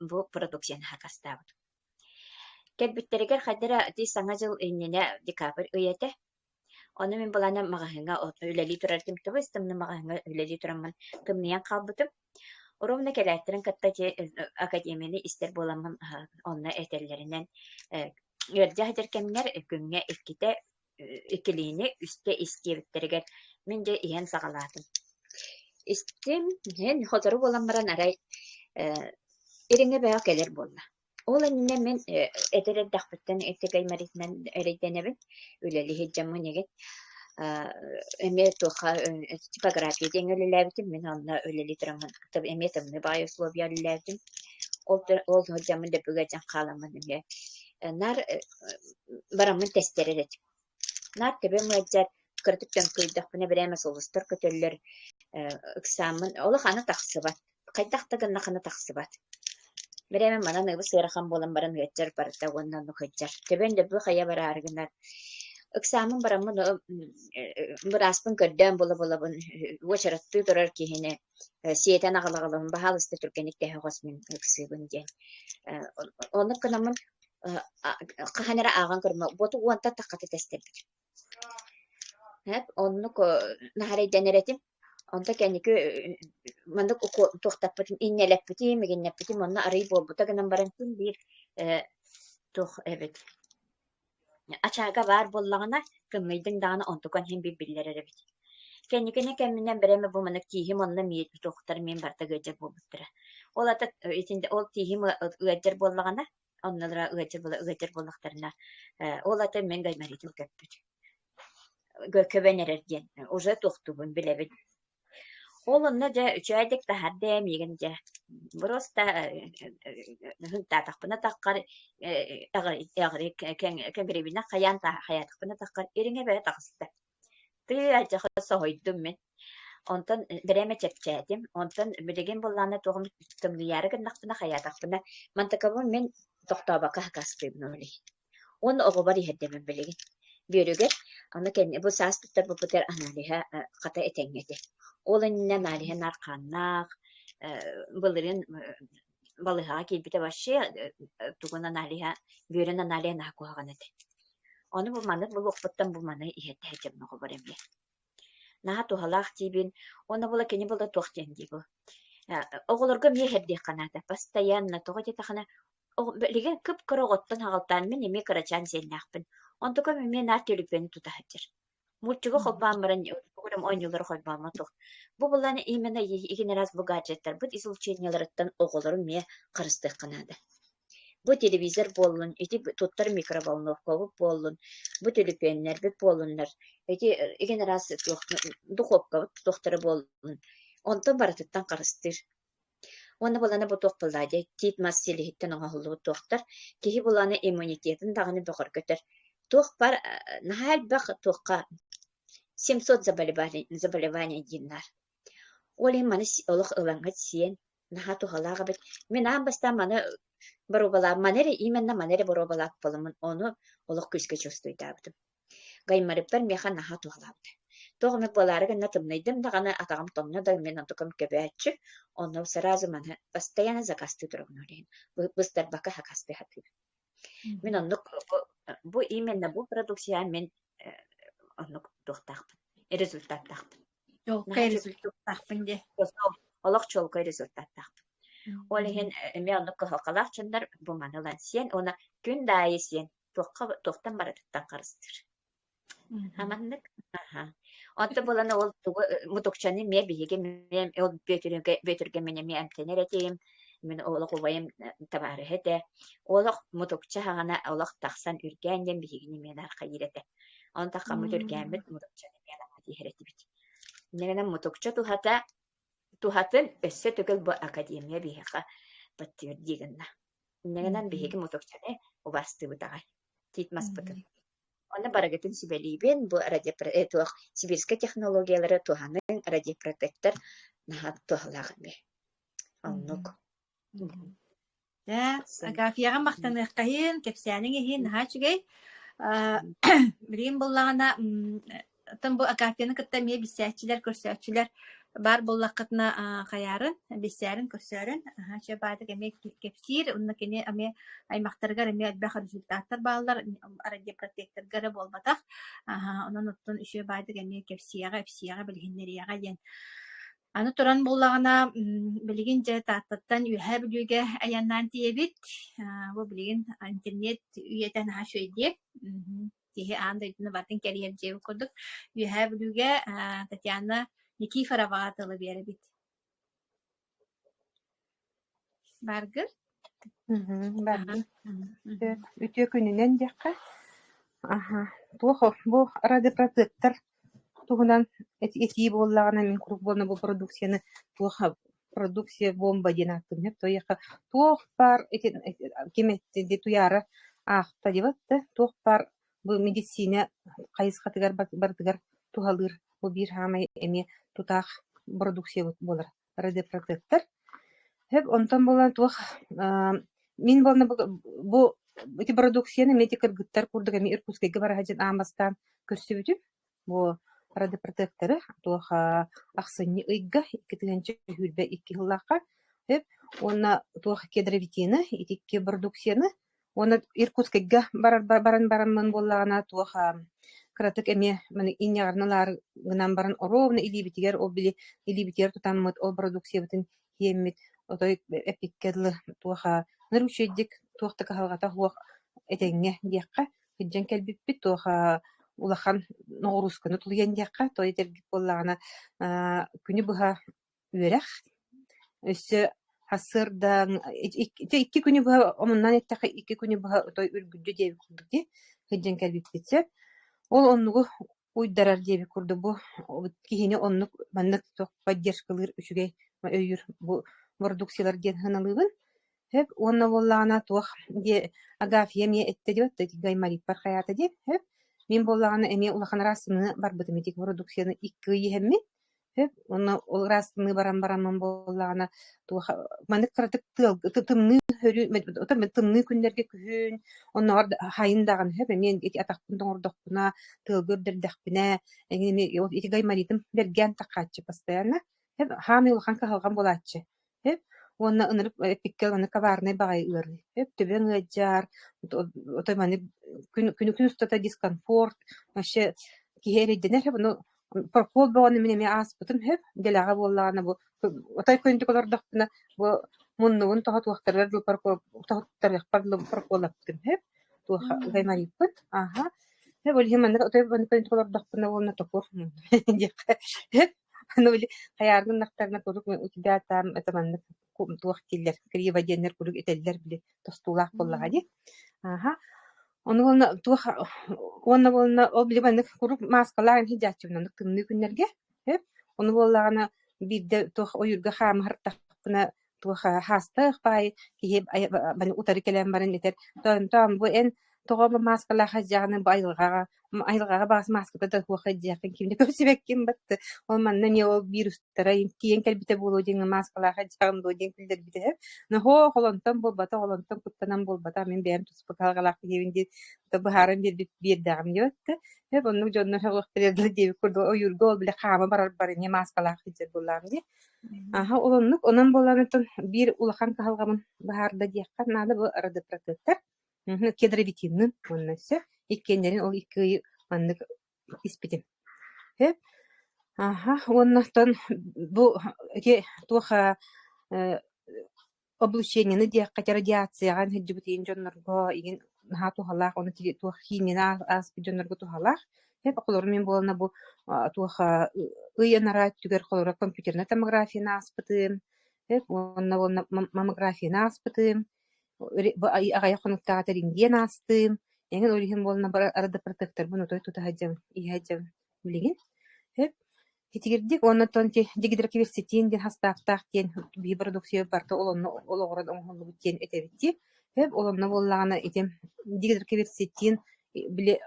A: бу продукцияны акастаабытым кэлбиттэригэр хайдара ити саҥа дьыл иннинэ декабрь ый этэ Ону мин былааннам маҕаһыыҥҥа олохтон үлэлии турар этим. Тоҕо истимнэ маҕаһыыҥҥа үлэлии тураммын тымныйан хаалбытым. Ровно кэлээттэрин кытта ити академияны истэр буоламмын онно этэллэринэн ыалдьа сытар кэмҥэр күҥҥэ иккитэ иккилиини үстэ истиэбиттэригэр мин дьэ иһэн саҕалаатым. Истим, иһэн сотору буолан баран арай э, ириҥэ бөҕө кэлэр буолла. Ол иннинэ мин э, эдэр эрдэхпиттэн эчэкэй мэритинэн эрэйдэнэбин, үлэлии сылдьаммын игит. Аа, эмиэ туохха э, типография диэн үлэлээбитим, мин онно үлэлии тураммын эмиэ тымныы баай условия үлэлээбитим. Ол ол сылдьаммын дөбүгэ дьон хааламмын эмиэ э, наар э, бараммын тестэрэр этим. Наар төбөм ыалдьар, кыратык төҥкөйдөхпүнэ бэрээ эмэ сулустар көтөллөр, э ыксааммын олох аны тахсыбат, хайдах да гыннах аны тахсыбат. Бэрээ эмэ манан ыбыс ыарахан буолан баран ыалдьар барыта уонна ону кыйдьар. Төбөм да быхайа бараары гынар. Ыксааммын бараммын ы бырааспын көрдөөн була-булабын уочараттыы турар киһини э сиэтэн аҕала-аҕалабын, баһаалыста түргэнник тэһэ хос мин ыксыыбын диэн. Э оннук гынаммын хаһан эрэ ааҕан көрүмэ буоту уонта таххата тэстэрбит оннук наһарайданар этим онто кэнники маннык туохтаппытын иннэлэппитим мигиннэппитим онно арый буолбута гынан баран күн биир туох эбит ачаага баар буоллаҕына кымныйдыҥ даҕаны онтукан иһин бир биллэрэр эбит кэнникине кэмминэн бэрэме бу манык тииһим онно миэтбит уохтар миин барта гыадьар буолбуттара ол ата итинде ол тииһим ыадьар буоллаҕына оннулара ыалдьар буола ыалдьар буоллахтарына э, ол ата мин гайморитл көппүт көбөн эрэр диэн уже тохтубун билэбин ол онно дьэ үчээдик таһарда миигин дьэ просто хынтаатахпына таххар эҕри кэҥрибинэ хайаан хаятахпына таххар ириҥэ бэрэ тахыста Тыы алдьархай соһуйдум мин. Онтон бэрэмэ чэпчээтим. Онтон билигин былаана туохум тымныйаары гыннахпына, хайаатахпына, мантакабын мин тохтообокко хакаастыыбын ол иһин. Уонна оҕобор иһэрдэмим билигин. Бүөрүгэр аны кэнни бу саас туттар буппутугар аналиһа э, хата этэҥҥэ этэ. Ол иннинэ аналиһа наар хааннаах, э, былырыын э, балыһаҕа киирбитэ вообще тугун аналиһа бүөрүн аналиһа наһаа куһаҕан этэ ону бу маны булуохпуттан бу маны иһэттэһэ чомноҕобор эмиэ наһаа туһалаах диибин уонна була кини була туох диэн дии бу оҕолорго эмиэ иһэрдиэххэ наада постоянно тоҕо диэтэххинэ билигин кып-кыра оҕоттон аҕалтаан мин эмиэ кырачаан сиэннээхпин онтукам эмиэ наар төлүпүөнү тута сылдьар Мультига холбоон баран бу оонньуулары холбоомо суох. Бу былаан именно итин раз бу гаджеттарбыт ис увлечениеларыттан оҕолору эмиэ харыстыахха наада. Бу телевизор буоллун, ити туттар микроволновкабыт буоллун, бу төлөпүөннэрбит буоллуннар, ити игин раз духуопкабыт туохтара буоллун, онтон барытыттан харыстыыр. Уонна былана бу туох тыллаах диэй, тиит мас силиһиттэн оҥоһуллубут туохтар, киһи былаана иммунитетын даҕаны бөҕөргөтөр. Туох бар, наһаа элбэх туохха семьсот заболеваний, заболеваний диэн наар. Ол иһин маны олох ылаҥҥыт сиэн, наһаа туһалаах эбит. Мин аан бастаан маны боруобалаам, маны эрэ, именна маны эрэ боруобалаах буоламмын, ону олох күүскэ чувствуйдаабытым. Гаймарыптар миэхэ наһаа туһалаабыта. Туох эмит буолаары гынна тымныйдым даҕаны, атаҕым тоҥно да мин онтукум көбөөччү, онно сразу маны постоянно закастыы туругун иһин быстарбакка сакастыы сатыыр. Мин оннук бу именно бу продукцияҕа мин оннук туохтаахпын, результаттаахпын. Чолкай результаттаахпын дии. Олох чолкай результаттаахпын. Ол иһин эмиэ оннук кыһалҕалаах чоннор бу маны лансиэн уонна күн даайы сиэн туохха туохтан барытыттан харыстыыр. Аманнык аха. Онто булан ол тугу мутукчаны ме биһиги ме ол бөтүрге бөтүрге мене ме эмтенер этейм мен олох убайым табаарыһы этэ олох мутукча хагана олох тахсан үргээн диэн биһигини мен архайыр этэ он такка мут үргээммит мутукчаны мен диһеретибит немена мутукча тухата тухатын өссө төгүл бу академия биһиэхэ подтвердигынна Иннэ гынан биһиги мутукчаны убастыыбыт аҕай, тиит маспытын. Онно барыгытын сүбэлиибин, бу радиопро э туох сибирскай технологиялары туһаныҥ, радиопротектор наһаа туһалаах эбит. Оннук. Дьэ, Агафьяҕа махтаныахха иһин, кэпсээниҥ иһин наһаа үчүгэй. Аа, билигин буллаҕына м, Оттон бу Акафияны кытта эмиэ билсээччилэр, көрсөөччүлэр баар буоллаххытына хайаарын, билсээрин, көрсөөрүн аһаа чэ баатык эмиэ кэпсиир. Онно кини эмиэ аймахтарыгар эмиэ элбэх результаттар бааллар, радиопротекторга эрэ буолбатах. Аһаа онон оттон үсүө баатык эмиэ кэпсиэҕэ, ипсиэҕэ, билиһиннэриэҕэ диэн. Аны туран буоллаҕына, билигин дьэ Тааттаттан Үөһээ Бүлүүгэ айаннаан тиийэбит. Бу билигин интернет үйэтэ наһаа үчүгэйдиэ. киһи аан дойдуну батын кэрийэр дьиэбит курдук Үөһээ Бүлүүгэ Татьяна Никифороваҕа тылы биэрэбит. Баргыр? Баргыр. Үтүө күнүнэн диэххэ. Аха. Туох бу радиопротектор Туһунан этии буоллаҕына, мин куруук буолла бу продукцияны туох продукция бомба диэн ааттыыбын сөп туойахха туох баар итин ким эттэ дии туйаара аахта диэбэт да туох баар бу мэдиссиинэ хайысхатыгар барытыгар туһалыыр бу биир саамай эмиэ тутаах бородууксуйа буолар радиопротектор Сөп, онтон буолан туох мин буолна бу ити бородууксуйаны эти кыргыттар курдук эми Иркутскайга бара сылдьан аан бастаан көрсүбүтүм. Бу радиопротекторы туох ахсынньы ыйга икки тыһыынча сүүрбэ икки сыллаахха сөп уонна туох кедровитины ити икки бородууксуйаны Уонна Иркутскайга барар баран бараммын буоллаҕына туох кыратык эмиэ маны инньэҕирэн ылаары гынан баран оруобуна илиибитигэр ол били илиибитигэр тутаммыт ол бородууксуйабытын тиэммит отой эппиккэ дылы туох ныручейдик туох да кыһалҕата суох этэҥҥэ диэххэ илдьэн кэлбиппит туох улахан ноҕуруусканы тулуйан диэххэ той этэргит буоллаҕына күнү быһа үөрэх өссө сарсыардаҥ ити икки күнү быһа омуннаан эттэххэ икки күнү быһа отой үргүлдьү диэбит курдук дии сылдьан кэлбиппит сөп ол оннугу уйдарар диэбит курдук бу киһини оннук маннык поддержкалыыр үчүгэй өйүүр бу бородууксуйалар диэн сыаналыыбын Сөп уонна буоллаҕына туох диэ Агафья эмиэ эттэ диэбэт да ити гаймориппар хайаата диэн сөп. Мин буоллаҕына эмиэ улахан ыраастыныы барбытым ити продукцияны икки ый иһэммин сөп уонна ол ыраастыныы баран бараммын буоллаҕына туох маннык кыратык тыал ты тымныы өрүү отон тымныы күннэргэ күһүн оннооҕор да хайын даҕаны сөп эмиэ ити атахпын тоҥордохпуна тыалга үрдэрдэхпинэ эмиэ ити гайморитым бэргээн таххааччы постоянно сөп хаамыы улахан кыһалҕам буолааччы Үп уонна ынырык эпиккэ аны коварнай баҕайы ыарыы. Үп түбэҥ ыалдьар, отой маны күн күн устата дискомфорт, вообще киһи эрэйдэнэр. Bunu Прокуол бөҕөнү мин эмиэ ааспытым үһү. Дэлэҕэ буоллаҕына бу отой көнтүк олордохпуна бу муннугун тоһутуохтарыгар дылы прокуол тоһуттарыахпар дылы прокуоллаппытым үһү. Туоха гаймарыйппыт. Ааха. Ол иһин маннык отой көнтүк олордохпуна уонна токуох мунна диэххэ. Ну, били хайаарга гыннахтарына куруук утуйда атаам это маннык туох дииллэр криво диэннэр куруук этэллэр били тостуулаах буоллаҕа дии. Ааха. Ону уонна туох уонна буолла ол били маннык куруук мааскалаах ини дьааччыбын оннук тымныы күннэргэ. Өп. Ону буоллаҕына биирдэ туох ойуурга хаамыһартахпына туох э, хаастаах баай киһи бары утары кэлэн баран этэр тоон тоон бу эн тоҕо мааскалаах дьааны бу айылҕаҕа айылҕаҕа баҕас мааската да туох дьиэххин кимне көрсүбэккин батты ол манна эмиэ ол биир устара тиийэн кэлбитэ буолуо диэҥҥэ мааскалаах дьаҕым дуо диэн күлдэрбитэ нохоо холонтон буолбата холонтон куттанан буолбата мин бэйэм туспа кыһалҕалаах киһибин диэн быһааран биэрбит биэрдэҕим диэбэттэ eb оннук дьоннор сөҕөхтэрэ диэбит курдук ойуурга ол бile хаама барар барыне мааскалаах сылдьар буоллаҕым дии Аһа улуннук, онон буолаанытын биир улахан кыһалҕабын быһаарда диэххэ наада бу родопротектор кедровитинын уонна өссө иккиэннэрин ол икки ыйы маннык испитим. Э аһа уонна оттон бу ити туох э облученияны диэххэ радиацияҕа сылдьыбыт иин дьоннорго иин наһаа туһалаах уонна туох химияны ааспыт дьоннорго туһалаах эт холорум мин буолана бу туох ый анара өттүгэр холоро компьютерная томографияны ааспытым эп уонна уонна маммографияны ааспытым аҕайа хонуктааҕы тэриҥ диэн аастым эҥин ол иһин буолана бара арада протектормун отой тута сылдьабын иһэ сылдьабын Билигин өп итигирдик уонна оттон дигидроперситин диэн хастааптаах диэн бии бородууксуйа барыта олонно олоҕуран оҥоһуллубут диэн этэбит дии. Өп олонно буоллаҕына ити дигидроперситин били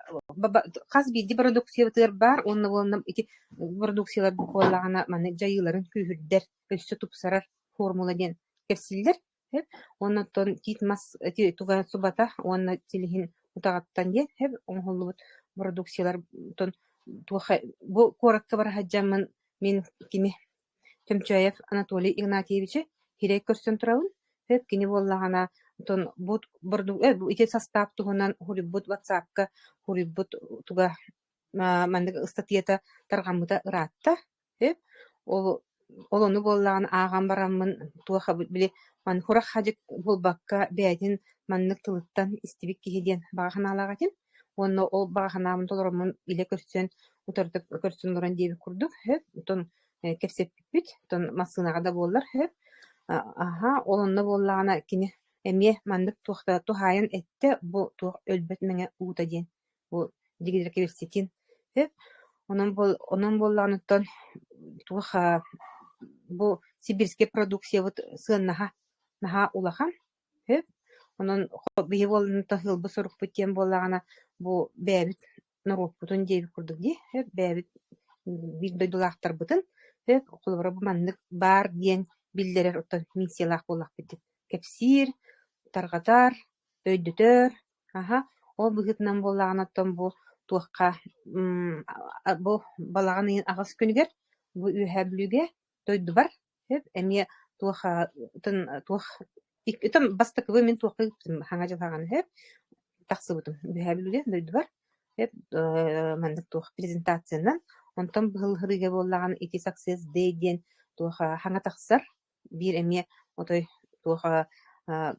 A: хас биирдии бородууксуйабытыгар баар уонна буолла ити бородууксуйалар буоллаҕына маны дьайыыларын күүһүрдэр, өссө тупсарар формула диэн кэпсииллэр. Оннуттан тиит мас туга уонна силиһин утаҕыттан диэн оҥоһуллубут бородууксуйалартан туохха бу куоракка бара сылдьаммын мин кими Тёмчаев Анатолий Игнатьевичы сирэй көрсөн турабын кини буоллаҕына оттон бу ити састаап туһунан суруйбут ватсапка суруйбут туга маннык ыстатыйата тарҕаммыта ыраатта Ол ол ону буоллаҕына ааҕан бараммын туох били маньхурах хадьык булбакка бэйэтин маннык тылыттан истибит киһи диэн баҕа санаалаах этим. Уонна ол баҕа санаабын толороммун илэ көрсөн утарытык көрсөн олорон диэбит курдук оттон кэпсэппиппит оттон массыынаҕа да буоллар аһаа ол онно буоллаҕына кини эмиэ маннык туохта туһаайан эттэ бу туох өлбөт мэҥэ уута диэн Бу дигидэр кэбиститин онон онон буоллаҕыныттан туох бу сибирскэй продукциябыт сыаннаһа наһаа улахан онон биһи буолланыттан ыалбыт сорукпут диэн буоллаҕына бу бэйэбит норуоппутун диэбит курдук дии бэйэбит биир дойдулаахтарбытын холобура бу маннык баар диэн биллэрэр оттон миссиялаах буоллахпыт дии кэпсиир тарҕатар өйдөтөр Аһа, ол быһыытынан буоллаҕына оттон бу туохха бу балаҕан ыйын аҕыс күнүгэр бу Үөһээ Бүлүүгэ дойдубар сөп эмиэ туох туох бастакыбын мин туохха ыыппытым Хаҥа Дьылҕаҕын сөп тахсыбытым Үөһээ Бүлүүгэ дойдубар сөп маннык туох презентациянан онтон быһылларыыга буоллаҕына ити success day диэн туох хаҥа тахсар Биир эмиэ отой туоха аа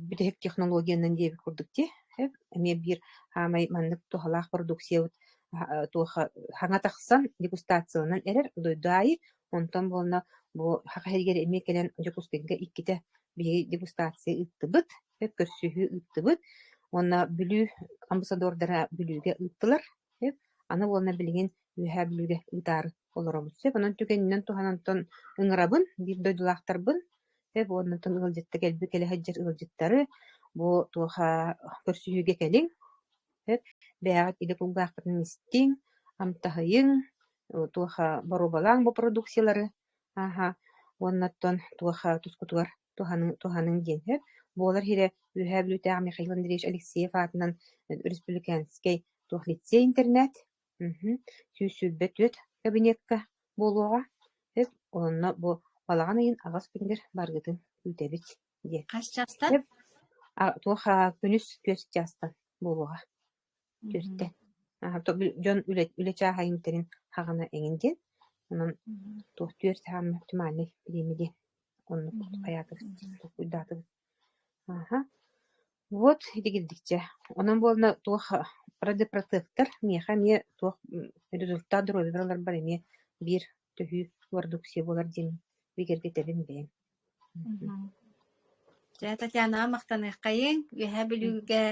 A: бүтэһик технологиянан диэбит курдук дии, эп эмиэ биир хаамай маннык туһалаах продукциябыт аһа туоха хаҥа тахсан дегустацияланан эрэр дойду аайы, онтон буолла бу Саха сиригэр эмиэ кэлэн Дьокуускайга иккитэ биһиги дегустация ыыттыбыт, эп көрсүһүү ыыттыбыт уонна Бүлүү амбассадордара Бүлүүгэ ыыттылар, эп аны буолла билигин Үөһээ Бүлгэ утаары олоробут. Сөп, онон түгэнинэн туһанантан ыҥырабын, биир дойдулаахтарбын, сөп, уоннатан ыалдьытта кэлбит кэлэ сылдьар ыалдьыттары бу туоха көрсүһүүгэ кэлиҥ, сөп, бэйэҕит илэ кулгааххытын истиҥ, амтаһыйыҥ, туоха боруобалааҥ бу продукциялары, ааһа, уоннаттан туоха тускутугар туһаныҥ, туһаныҥ диэн, сөп. Буолар иһирэ Үөһээ Бүлүүтээҕи Михаил Андреевич Алексеев аатынан Республиканскай туох лицей-интернат Уһун, сүүрсүрбэ түөрт кабинекка буолуоҕа, эт уонна бу балаҕан ыйын аҕыс күнүгэр барыгытын күүтэбит диэн. Хас чаастан? Эп, а, туох а, күнүс түөрт чаастан буолуоҕа. Түөртэ. Аһа, то бу дьон үлэ, үлэ чааһа имтэрин хаҕына эҥин диэн. Онон туох түөрт хааммат муниципальнай бириэмэ диэн оннук айаатыгыс тугуйдаатыгыс Вот дигирдикчэ, онон буолла туох радиопротектор миэхэ эмиэ туох результат доруобуйабар ыларбар эмиэ биир төһүү ордук сиэ буолар диэн бигэргэтэбин бэйэм Дьэ, Татьянаҕа махтаныаххайыҥ. Үөһээ Бүлүүгэ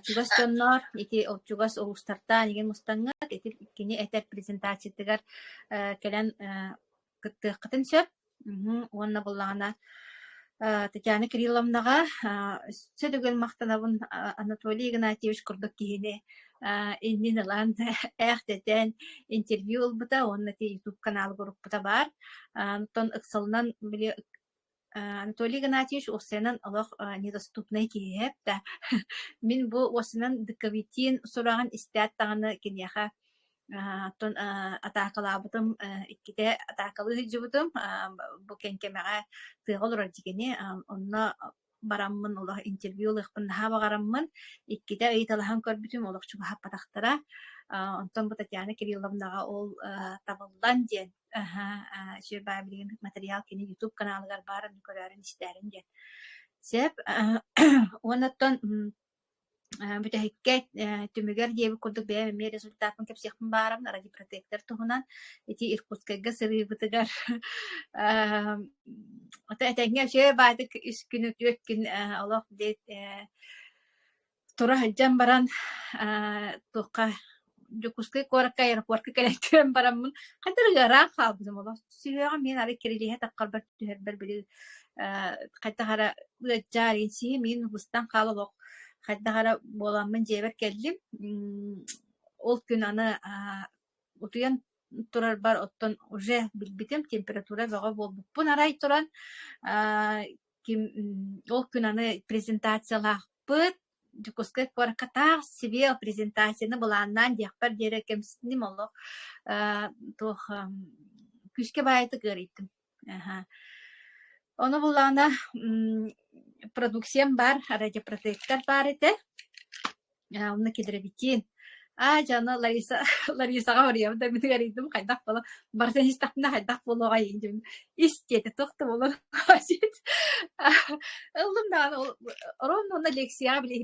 A: чугас дьонноор, ити чугас улуустартан эйигин мустаҥҥыт, ити кини этэр презентациятыгар кэлэн кыттыаххытын сөп уонна буллаҕына Татьяна Кирилловнаҕа өссө төгүл махтанабын Анатолий Игнатьевич курдук киһини иннин ылан ээхтэтэн интервью ылбыта уонна YouTube каналыгар урукпута баар. Оттон ыксалынан били Анатолий Игнатьевич уопсайынан олох недоступнай киһи эбэтэ. Мин бу уопсайынан Дыковитин сураҕын истээт даҕаны киниэхэ оттон атаакалаабытым иккитэ атаакалыы сылдьыбытым бу кэҥкэмэҕэ тыаҕа олорор дьигини онно бараммын олох интервью ылыахпын наһаа баҕараммын иккитэ ыйыталаһан көрбүтүм олох чугаһаппатахтара онтон бу Татьяна Кирилловнаҕа ол табыллан диэн Аһаа, сир-баай билигин матырыйаал кини YouTube каналыгар баарын көрөөрүн-истээрин диэн. Сөп. Уонна оттон бүтэһиккэ түмүгэр диэби курдук бэйэм эмиэ результатын кэпсиэхпин баарым ради протектор туһунан ити Иркутскайга сырыыбытыгар этэҥҥэ үчүгэй баайдык үс күн үтүө күн олох тура сылдьан баран туохха Дьокуускай куоракка аэропортка кэлэн кэлэн бараммын хатырык ыраах хаалбытым олох сүһүөҕүм миин арай кирилиһэ таххарбар түһэрбэр били хайдах эрэ ыаччаар сиһим миин устан хаал олох хайдах эрэ буоламмын дьиэбэр кэллим ол күн аны утуйан турарбар оттон уже билбитим температура бөҕө буолбуппун арай туран аа ким ол күн аны презентациялаахпыт Дьокуускай куоракка таах сибиэл презентацияны былааннаан диэхпэр диэри кэмсинним олох аа туох күүскэ баайытык ыарыйтым Аха. Ону булаана м, продукциям бар, радиопротектор бар этэ. А, Онно кедровитин. А, дьоно Лариса, Ларисаҕа барыйам да мин арыйдым хайдах буолан барытын истэхпинэ хайдах буолуоҕай дим истиэтэ тохто болон хаасит ыллым даҕаны ол орон уонна лекцияҕа биле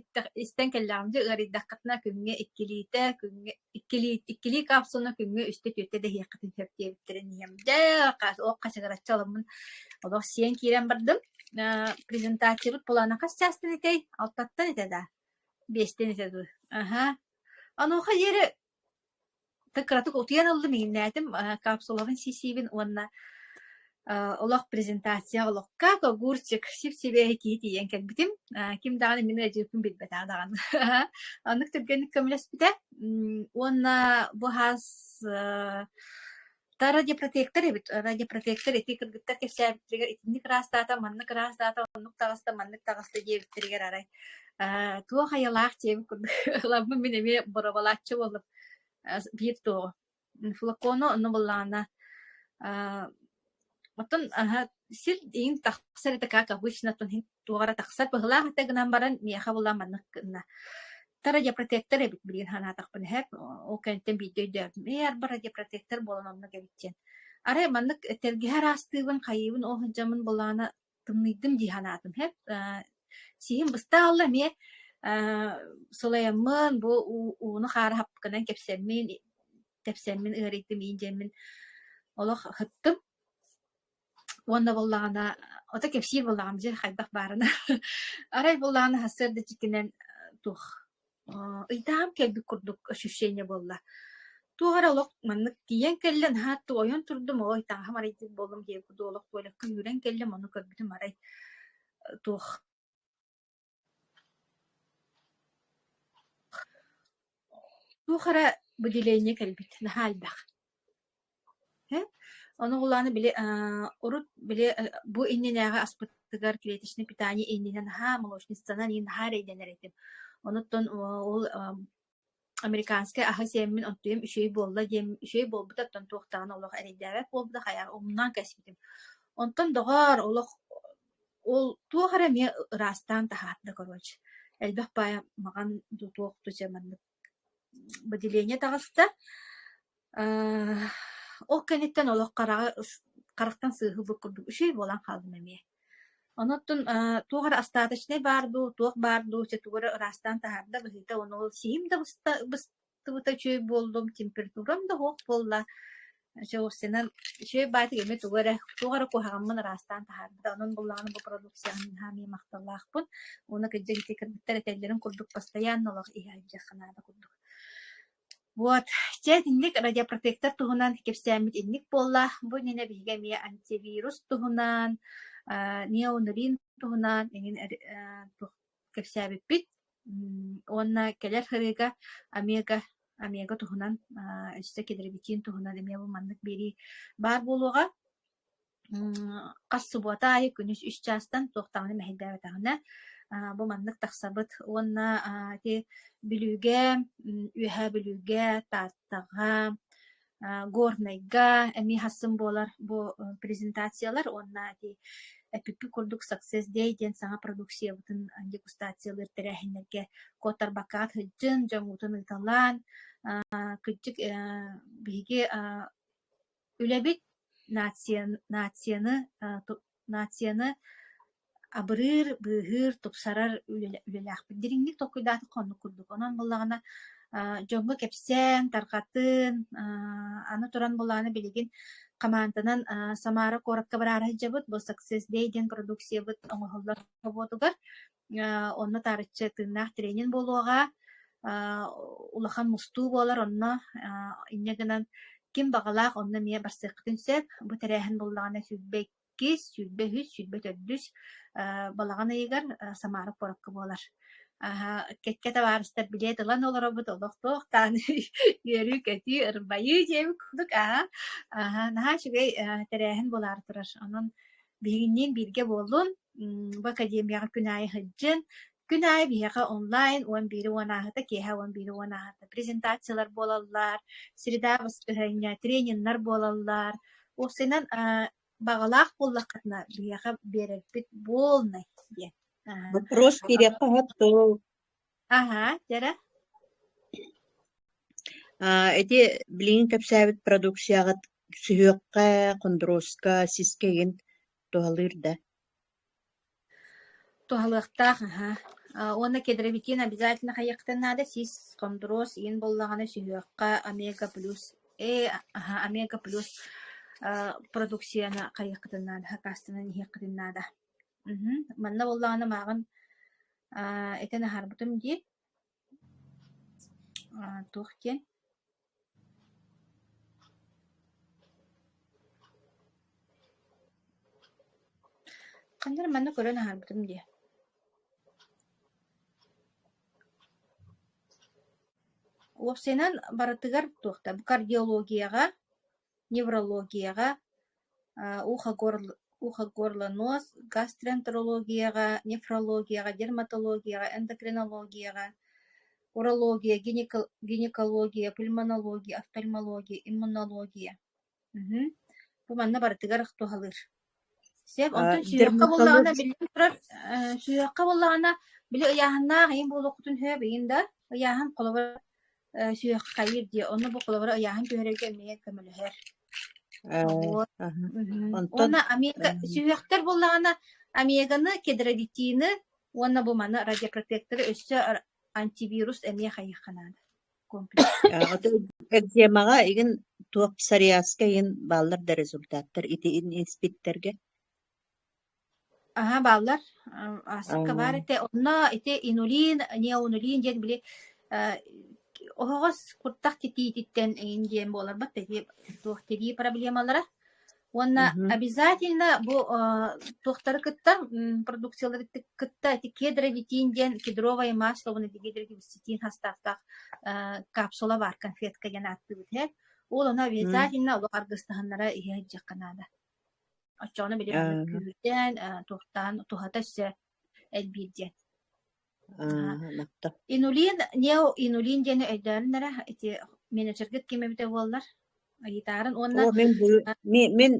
A: истэн кэллэҕим дьэ ыарыйдаххытына күҥҥэ иккилиитэ күҥҥэ иккилии, иккилии капсула күҥҥэ үстэ-түөртэ дэһиэххитин сөп диэбиттэрин иһэм. Дьэ, ол хачыгыраччы аламмын олох сиэн киирэн бардым. Презентациябыт плана хас частан этэй? Алтаттан этэ да? Биэстэн этэ дуу? Аха. Онуоха диэри ты кыратык утуйан ыллым, иҥнээтим капсулабын сисиибин уонна олох презентация олохка огурчик сип-сибиэһи тии тиийэн кэлбитим ким даҕаны мин ыадьыыкпын билбэтэх даҕаны оннук түргэнник көмөлөспүтэ уонна бу хас да радиопротектор эбит радиопротектор ити кыргыттар кэпсээбиттэригэр итинник ыраастаата маннык ыраастаата оннук таҕыста маннык таҕыста диэбиттэригэр арай туох айалаах дьиэбин курдук ламмын мин эмиэ боробалааччы буоллум биир туоҕу Флакону ону былаана аа оттон аһа сир иҥ тахсар это как обычно оттон иһин туох эрэ тахсар быһылаах этэ гынан баран миэхэ була маннык гынна. Тара диапротектор эбит билигин санаатахпын иһэр ол кэнниттэн биирдэ өйдөөбүтүм ээ арбара диапротектор буолан оннук эбит диэн арай маннык тэлгэһэ араастыыбын хайыыбын ол сылдьаммын былаана тымныйдым дии санаатым. Эт сиһим быстах аһылла эмиэ сылайаммын бу ууну хаары хапканан кэпсэммин тэпсэммин ыарыйтым иин дьэммин олох ыһыттым. Уонна буоллаҕына ото кэпсиир буоллаҕым дьэ хайдах баарына. Арай буоллаҕына сарсыарда дьиктинэн туох Э, ыйдаһам кэлбит курдук ощущение буолла. Туох эрэ олох маннык тиийэн кэллэ, наһаа ойон турдум, ой таҥаһым арыйдыыр буоллум, иһигэр куду олох туойлакка үүрэн кэллим, ону көрбүтүм арай туох туох эрэ будиление кэлбит, наһаа элбэх. Ону кулааны били урут били бу иннинээҕи аспытыгар клеточный питание иннинэ наһаа молочницанан наһаа эрэйдэнэр этим. Онуттан ол американскай аһы сиэммин онтуйам үчүгэй буолла диэн үчүгэй буолбута оттон туох даҕаны олох эрэйдээбэт буолбута хайа умнан кэспитим. Онтон доҕоор олох ол туох эрэ эмиэ ыраастаан таһаарда короче. Элбэх баай маҕан туох да дьэ маннык Бадилианньа таҕыста. Э, ол кэнниттэн олох хараҕы харахтан сыыһылбыт курдук үчүгэй буолан хааллым эмиэ. Онон э, туох эрэ остаточнай баар дуу, туох баар дуу, чэ тугу эрэ ыраастаан таһаарда быһыыта, ону сиһим да быстыбыта үчүгэй буоллум, температурам да суох буолла. Чулусинан швей баатик эми тугу эрэ туох эрэ куһаҕаммын ыраастаан таһаарбыта. Онон буллаҕына бу продукцияны наһаа махталлаахпын. Уонна кырдьа ити кыргыттар этэллэрин курдук постоянно олох иһэ илдьиэххэ наада курдук. Вот. Дьэ, итинник радиопротектор туһунан кэпсээммит инник буолла. Бу иннинэ биһиги эмиэ антивирус туһунан, неонурин туһунан эҥин кэпсээбиппит уонна кэлэр ырыыга Омега Омега туһунан өссө килэрибитиин туһунан эмиэ бу маннык биэрии баар буолуоҕа хас субуота аайы күнүс үс чаастан туох даҕаны мэһэйдээбэтэҕинэ бу маннык тахсабыт уонна ити бүлүүгэ үөһээ бүлүүгэ тааттаҕа горнайга эмиэ хассын буолар бу презентациялар уонна ити эпикпит курдук success day диэн саҥа продукциябытын дегустациялыыр тэрээһиннэргэ куотарбакка сылдьын дьоҥҥутун ыыталаан кырдьык биһиги үлэбит нацияны нацияны абырыыр, быыһыыр, тупсарар үлэлээхпит. Дириҥник толкуйдаатахха оннук курдук. Онон буоллаҕына дьоҥҥо кэпсээн, тарҕатан, аны туран буоллаҕына билигин хамаанданан Самара куоракка бараары сылдьабыт. Был Success Day диэн продукциябыт оҥоһуллар собуотугар онно таарыччы тыыннаах тренер буолуоҕа, улахан мустуу буолар онно, инньэ гынан ким баҕалаах онно эмиэ барсыаххытын сөп. Бу тэрээһин буоллаҕына сүүрбэ иккис, сүүрбэ үһүс, сүүрбэ төрдүс балаҕан ыйыгар Самара куоракка буолар. кэккэ табаарыстар билет ылан олоробут олохтуохтаан үөрүү-көтүү, ырбайыы диэбит курдук аһа, аһа наһаа үчүгэй тэрээһин буолаары турар. Онон Биһигинниин бииргэ буоллун, бу академияҕа күн аайы сылдьын. Күн аайы биһиэхэ онлайн он биири уон ааһыта, киэһэ он биири уон ааһыта презентациялар буолаллар, среда баскыһыанньа, трениннэр буолаллар. Уопсайынан а, баҕалаах буоллаххытына, биһиэхэ биэрэрбит буолнай диэн. Вопрос кириэххэ Аһаа, дьара Аа, ити билигин кэпсээбит продукцияҕыт сүһүөххэ, хондуруоска, сискэйин туһалыыр да? Туһалыахтаах, аһаа. А, уонна кедровикин обязательно хайыахтан наада, сис хондуруос иин буоллаҕына сүһүөххэ омега плюс э аһа омега плюс а, продукцияны хайыаххытын наада, хакаастынан иһиэххитин наада. Мгм. Манна буоллаҕына мааҕын Аа, этэн аһарбытым дии аа, туох диэн Ханна манна көрөн аһарбытым дии Уопсайынан барытыгар туохта кардиологияҕа неврологияҕа, ухо-горлоноос, гастроэнтерологияҕа, нефрологияҕа, дерматологияҕа, эндокринологияҕа, урология, гинекология, пульмонология, офтальмология, иммунология. Бу манна барытыгар туһалыыр Сөп, онтон сүһүөххэ буоллаҕына, биллэн турар, сүһүөххэ буоллаҕына, били ыйааһыннаах ийин буолуоххутун сөп, ийин да, ыйааһын холобура сүһүөххэйир диэ, онно бу холобура ыйааһын түһэрэргэ эмиэ көмөлөһөр. Уонна Америка сүһүөхтэр буоллаҕына, Американы, кедрадитины уонна бу маны радиопротекторы өссө антивирус эмиэ хайыхха наада. Аҕата экземаҕа игин туох псориазка иһин бааллар да результаттар ити испиттэргэ аһа бааллар аасыкка баар этэ онно ити инулин неонулин диэн били оһоҕос куртах титиититтэн эйин диэн буоларбат эти туох тирии проблемалара Уонна Мгм. обязательно бу э, туохтары кытта м, продукциялары ты- кытта эти кедровитин диэн кедровое масло уонна дегидровисцитин хастаахтаах э, капсула бар конфетка диэн ааттыыбыт иһэ. Ол ону Мгм. обязательно олох аргыстаһыннара иһэ иһдьэххэ наада. Оччоҕуна били Э, күүтэн, э, туохтаан туһата өссө элбиир диэн. Инулин неоинулин диэни өйдөөн эрэ ити менеджергыт ким эбитэ буоллар Айыытаарын уонна мин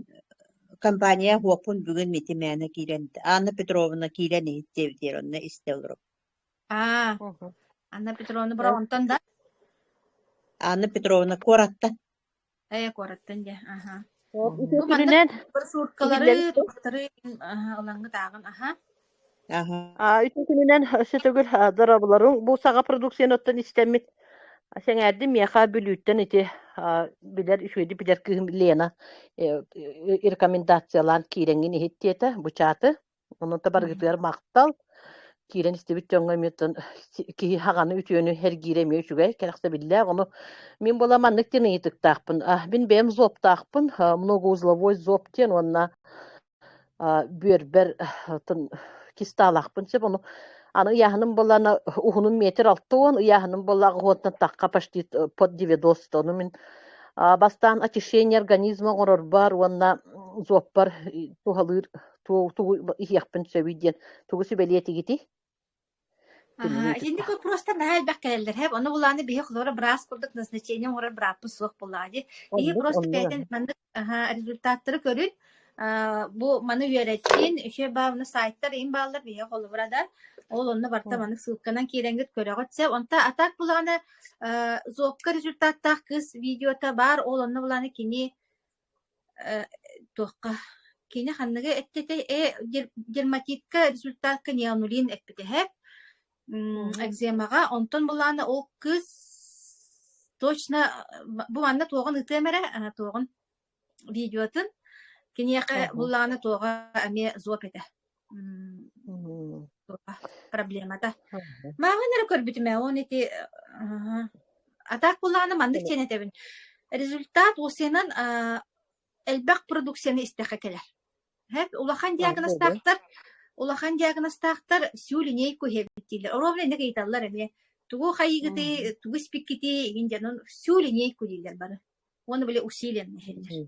A: компания уоппун бүгүн Митимээнэ киирэн Анна Петровна киирэн иһиттиэбит диир онно истэ олорум аа Анна Петровна Бороҕонтон да Анна Петровна куораттан Ээ, куораттан дьэ, аһа. Ол Ити маннык түрүнэн сууркалары, иһиллэн туохтары аһа ылаҥҥыт-ааҕын, аһа? Аһа. Аа, ити күнүнэн өссө төгүл а, дорабыларым бу саҕа продукцияны оттон истэммит а, сэҥээрдим миэхэ Бүлүүттэн ити а, билэр үчүгэйдик билэр кыыһым Лена э, э, рекомендациялаан киирэҥҥин иһиттиэтэ, бычааты. Онон баргытыгар махтал. Киирэн истибит дьоҥҥо эмиэ тын киһи хаҕаны үтүөнү эргиирэ эмиэ үчүгэй, кэрэхсэбиллээх. Ону мин булам маннык диэн ыйытыктаахпын. А, мин бэйэм зоптаахпын, многоузловой зоб диэн уонна бүөрбэр тын кистаалаахпын сөп. Ону аны ыйааһыным булана уһунун метр алты уон, ыйааһыным булаҕа уонтан тахха почти под девяносто. Ону мин бастаан очищение организма оҥорорбар уонна зоппар туһалыыр тугу иһиэхпин сөбүй диэн тугу сүбэлиэтигитий Итинник вопростар наһаа элбэх кэлэллэр һэп ону булааны биһи хлора браас курдук назначение оҥорор брааппыт суох булаади иһи просто бэйэтин маннык результаттары көрүн бу маны үөрэттин үчү баавна сайттар ин бааллар биһи холобурадар ол онно барта маннык ссылканан кииренгит көрөҕүт сеп онта атак булааны зокка результаттаах кыс видеота баар ол онно булааны кини Э, туохха кини ханныгы эттете э дерматитка результатка неонулин эппитеһэп экземаҕа онтон булаана ол кыыс точно бу манна туоҕун ытыам эрэ туоҕун видеотын киниэхэ булаана туоҕа эмиэ зоп этэ проблемата мааҕын эрэ көрбүтүм ээ он ити атаак булааны маннык диэн этэбин результат УСИ-нан элбэх продукцияны истэхэ кэлэр улахан диагностаахтар улахан диагностаахтар всю линейку дииллэр оруобуна инник ыйыталлар эмиэ тугу хайыгытый тугу испиккитий игин дьонун всю линейку дииллэр бары уону били усилием нэһэллэр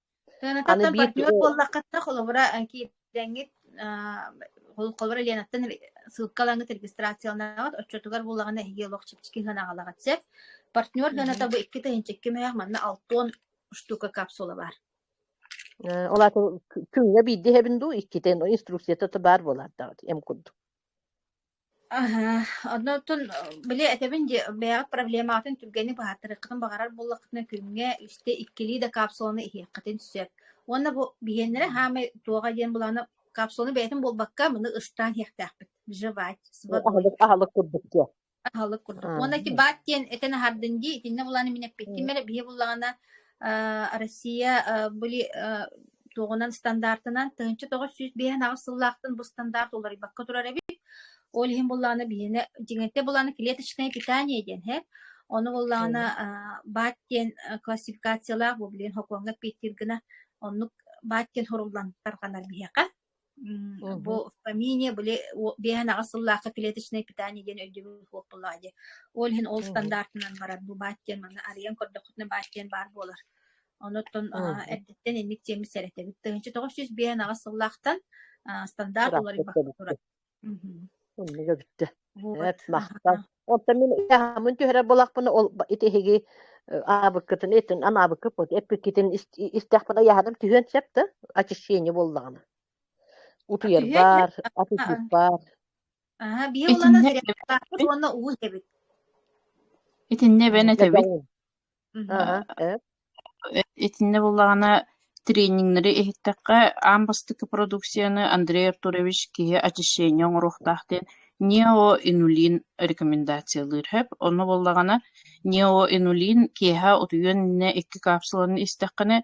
A: Аны Сыанаттан биир партнер буоллаххытына, холобура, киирдэҥҥит, холобура, Ленаттан ссылкалаҥҥыт регистрацияланаҕыт, отчетугар буллаҕына эһиги олох чэпчэки сыанаҕалаҕыт сөп. Партнер сыаната бу икки тыһыынчакка мөһөх манна алтуон штука капсула баар. Ол аатын күҥҥэ биирдэ иһэбин дуу, иккитин инструкцията баар буолаардаҕыт, эм курдук. Аһа, оннуттун били этэбин дии, бэйэҕит проблемаҕытын түргэнник быһааттарыаххытын баҕарар буоллаххытына, күҥҥэ үстэ иккилии да капсуланы иһиэххитин сөп. Уонна бу биһиэннэрэ хаамай туоҕа диэн былааны капсуланы бэйэтин булбакка, маны ыстаан иһиэхтээхпит. Жевать, свобода. Аһылык, аһылык курдук диэн. Аһылык курдук. Уонна ити баат диэн этэн аһардын дии, итиннэ булааны мин эппиттим эрэ, биһиэхэ буллаҕына Россия были туоҕунан стандартынан тыһынча тоҕус сүүс биэһин аҕыс сыллаахтан бу стандарт уларыйбакка турар эбит. Ол иһин буллааны билине дьиҥэтэ буллааны клеточное питание диэн һэр. Ону буллааны баат диэн классификациялаах бу билин хокуоҥҥа питтир гына оннук баат диэн хоруллан тарҕанар биһиэхэ. Бу помине были биэһэнаҕас сыллаахха клеточное питание диэн өйдөбүл суоппулаах дии. Ол иһин ол стандартынан барар бу баат диэн манна арыйан көрдөххүтүнэ баат диэн баар буолар. Онуттан эрдэттэн инник тиэммит сэрэтэбит. Тыһынча тоҕус жүз биэһэнаҕас сыллаахтан стандарт уларыйбакка турар. Иннигэ бүттэ. Эт махтал. Онтон мин мун түһэрэр болахпын ол ити эһиги аабыккытын этин анаабыккыт пот эппиккитин истэхпин аяхадам түһүөн сөп да очищение боллагана. Утуер бар, аппетит бар. Аха, бие улана зря уонна уу эбит. Итинне бен этебит. Аха, э Итиннэ буллаҕына тренингнэри иһиттэххэ аан бастакы продукцияны Андрей Артурович киһи очищение оҥоруохтаах диэн неоинулин рекомендациялыыр һэп. Онно буоллаҕына неоинулин киэһэ утуйан иннэ икки капсуланы истэххинэ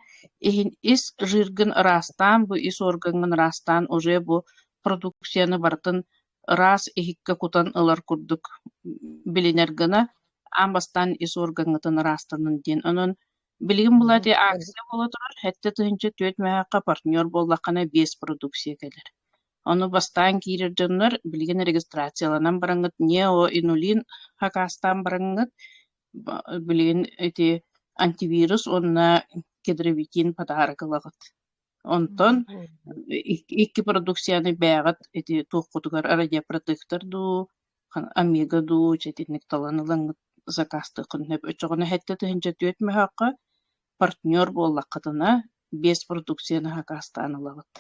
A: иһин ис жиргин ыраастаан, бу ис органҥын ыраастаан уже бу продукцияны барытын ыраас иһиккэ кутан ылар курдук билинэр гына аан бастаан ис уоргаҥҥытын ыраастанын диэн. Онон билигин былаатыйа акция буола турар, сэттэ тыһыынча түөрт мөһөөккө партнер буоллаххына биэс продукция кэлэр. Ону бастаан киирэр дьоннор билигин регистрацияланан бараҥҥыт, неоинулин хакаастаан бараҥҥыт, билигин ити антивирус уонна кедровитин патаары ылаҕыт. Онтон икки продукцияны бээҕит ити туоххутугар радиопродуктор дуу, Омега дуу дьитинник талан ылаҥҥыт закаастыаххын сөп. Оччоҕуна сэттэ тыһыынча түөрт мөһөөххө партнер буоллаххытына биэс продукцияны сакаастаан ылаҕыт.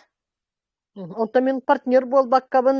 A: Онтон мин партнер буолбаккабын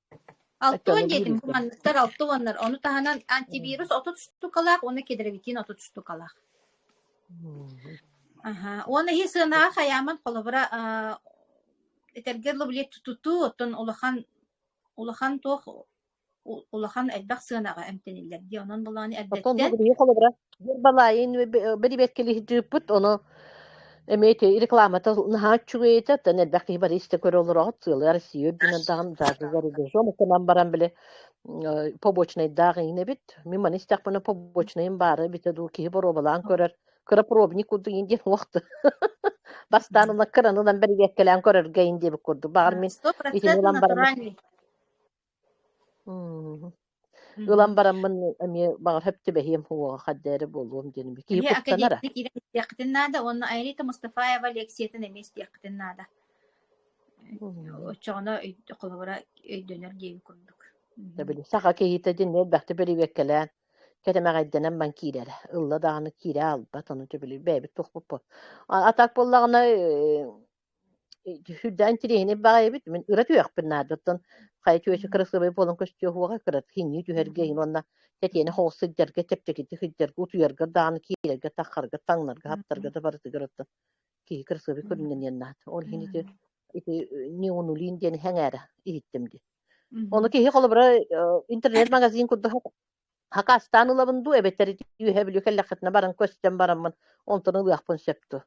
A: Алто диэтим, куманныктар алты уоннар. Ону таһынан антивирус отут штукалаах уонна кедровитин отут штукалаах. Аха. Уон эһи сыанаҕа хайааман холобура этэргэр лоблет туту, оттон улахан улахан туох улахан элбэх сыанаҕа эмтэниллэр дии. Онон булааны эрдэттэн холобура Биир балаайын бэрибиэткэлиһдирпут, ону эмиэти рекламата наһаа үчүгэй этэ, оттон элбэх киһи бары истэ көрө олороҕут, сыалый Россия үрдүнэндаҕын за рубежом, оттонон баран били побочнайдаах инэбит, мин маны истэхпинэ побочнайым баары битэ дуу киһи боруобалаан көрөр, кыропробник курдук индиэн уохта бастаан уна кыран ылан бэрибиэткэлээн көрөргө индиэбит курдук, баҕар мин итини ылан баран Мм. Ылан бараммын эмиэ баҕар сөптүбэһиэм уоҕа хаддээри буолуом диэн эбит. Киһи Эмиэ куттанара. академик киирэн истиэххитин наада уонна Айрита Мустафаева лекциятын эмиэ истиэххитин наада. Мм. Оччоҕуна өй- холобура өйдөнөр диэбит курдук. Мгм. Сөбүлүү. Саха киһитэ дьин элбэхтик бэрэбиэркэлээн кэтэмэҕэйдэнэн ман киирэрэ. Ылла даҕаны киирэ аалбат, ону сөбүлүү бэйэбит тохпуппут. А а так буоллаҕына, э, Сүрдээн интириэһинэй баҕайы эбит. Мин ыра түһүөхпүн наада. Оттон хайа чүөчү кырасыабай буолан көстүөхуоҕа кырат хиннии түһэргэ иһин уонна тэтиэнэ хоҕус сылдьарга, чэпчэкитик сылдьарга, утуйарга даҕаны, киирэргэ, таххарга, таҥнарга, хаптарга да барытыгар оттон киһи кырасыабай көрүннэниэн наада. Ол иһин ити ити неонулин диэн хэҥээрэ иһиттим дии. Ону киһи холобура интернет-магазин курдук хакастаан ылабын дуу эбэтэр үөһэ бүлүү кэллэххитинэ баран көстөн бараммын онтон ылыахпын сөп дуу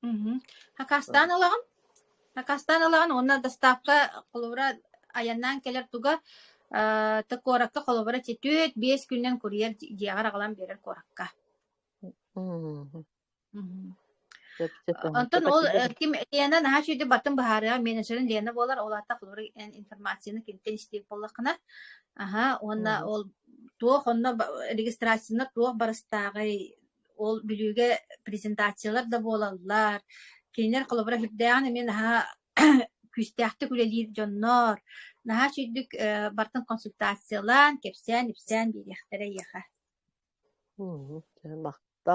A: Мгм. Акаастаан ылаҕын? Акаастаан ылаҕын уонна доставка холобура айаннаан кэлэр туга э, ты куоракка холобура четверть биэс күннэн курьер дьиэҕэр аҕалан биэрэр куоракка. Мгм. Мгм. Сөпсө Онтон ол э, көтөтүлэр. ким Лена наһаа үчүгэй бартын быһаарыаҕа менеджерин Лена буолар ол аата холобура информацияны кинтэн истиир буоллаххына аһа уонна Мгм. ол туох онно ба- регистрацияна туох барыстааҕый ол Бүлүүгэ презентациялар да буолаллар. Кинилэр холобура үрдээҕин эмиэ наһаа күүстээхтик үлэлиир дьоннор наһаа сүрдүк бартын консультациялаан, кэпсээн-ипсээн биэриэхтэрэ эйиэхэ. Махта.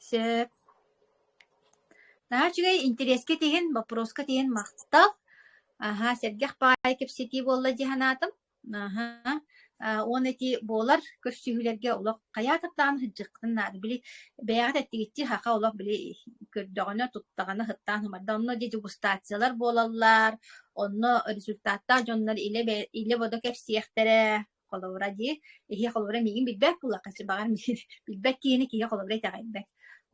A: Сөп. Наһаа үчүгэй интэриэскэ тиһин, боппуруоска тиһин махтал. Аһаа, сэргэх баай кэпсэтии буолла дии санаатым. Аһа, уон эти буолар көрсүһүүлэргэ олох хайаатыктаан сыдьыккытын наада. Били бэйэҕит эттигитти хаха олох били көрдөҕүнэ, туттаҕына сыттаан сымарда. Онно дьэ дегустациялар буолаллар. Онно результаттаах дьоннор илэ илэ бодо кэпсиэхтэрэ. Холобура дии, иһи холобура миигин билбэт буоллахха баҕар билбэт киһини киһи холобура итэҕэйбэт.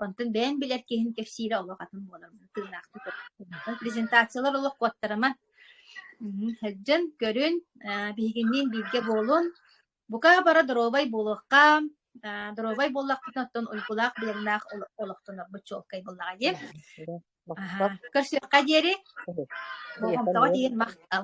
A: Онтон бэйэн билэр киһин кэпсиирэ олох атын буолар. Тыынаахтык презентациялар олох куоттарыма Сылдьан көрүн, биһигинниин бииргэ буолун. Бука бара доруобай буолуохха. Доруобай буоллахпытына, оттон уйгулаах биэрэлээх олохтонорбут чуолкай буоллаҕа дии. Көрсүөххэ диэри. Болҕомтоҕо тиийэн махтал.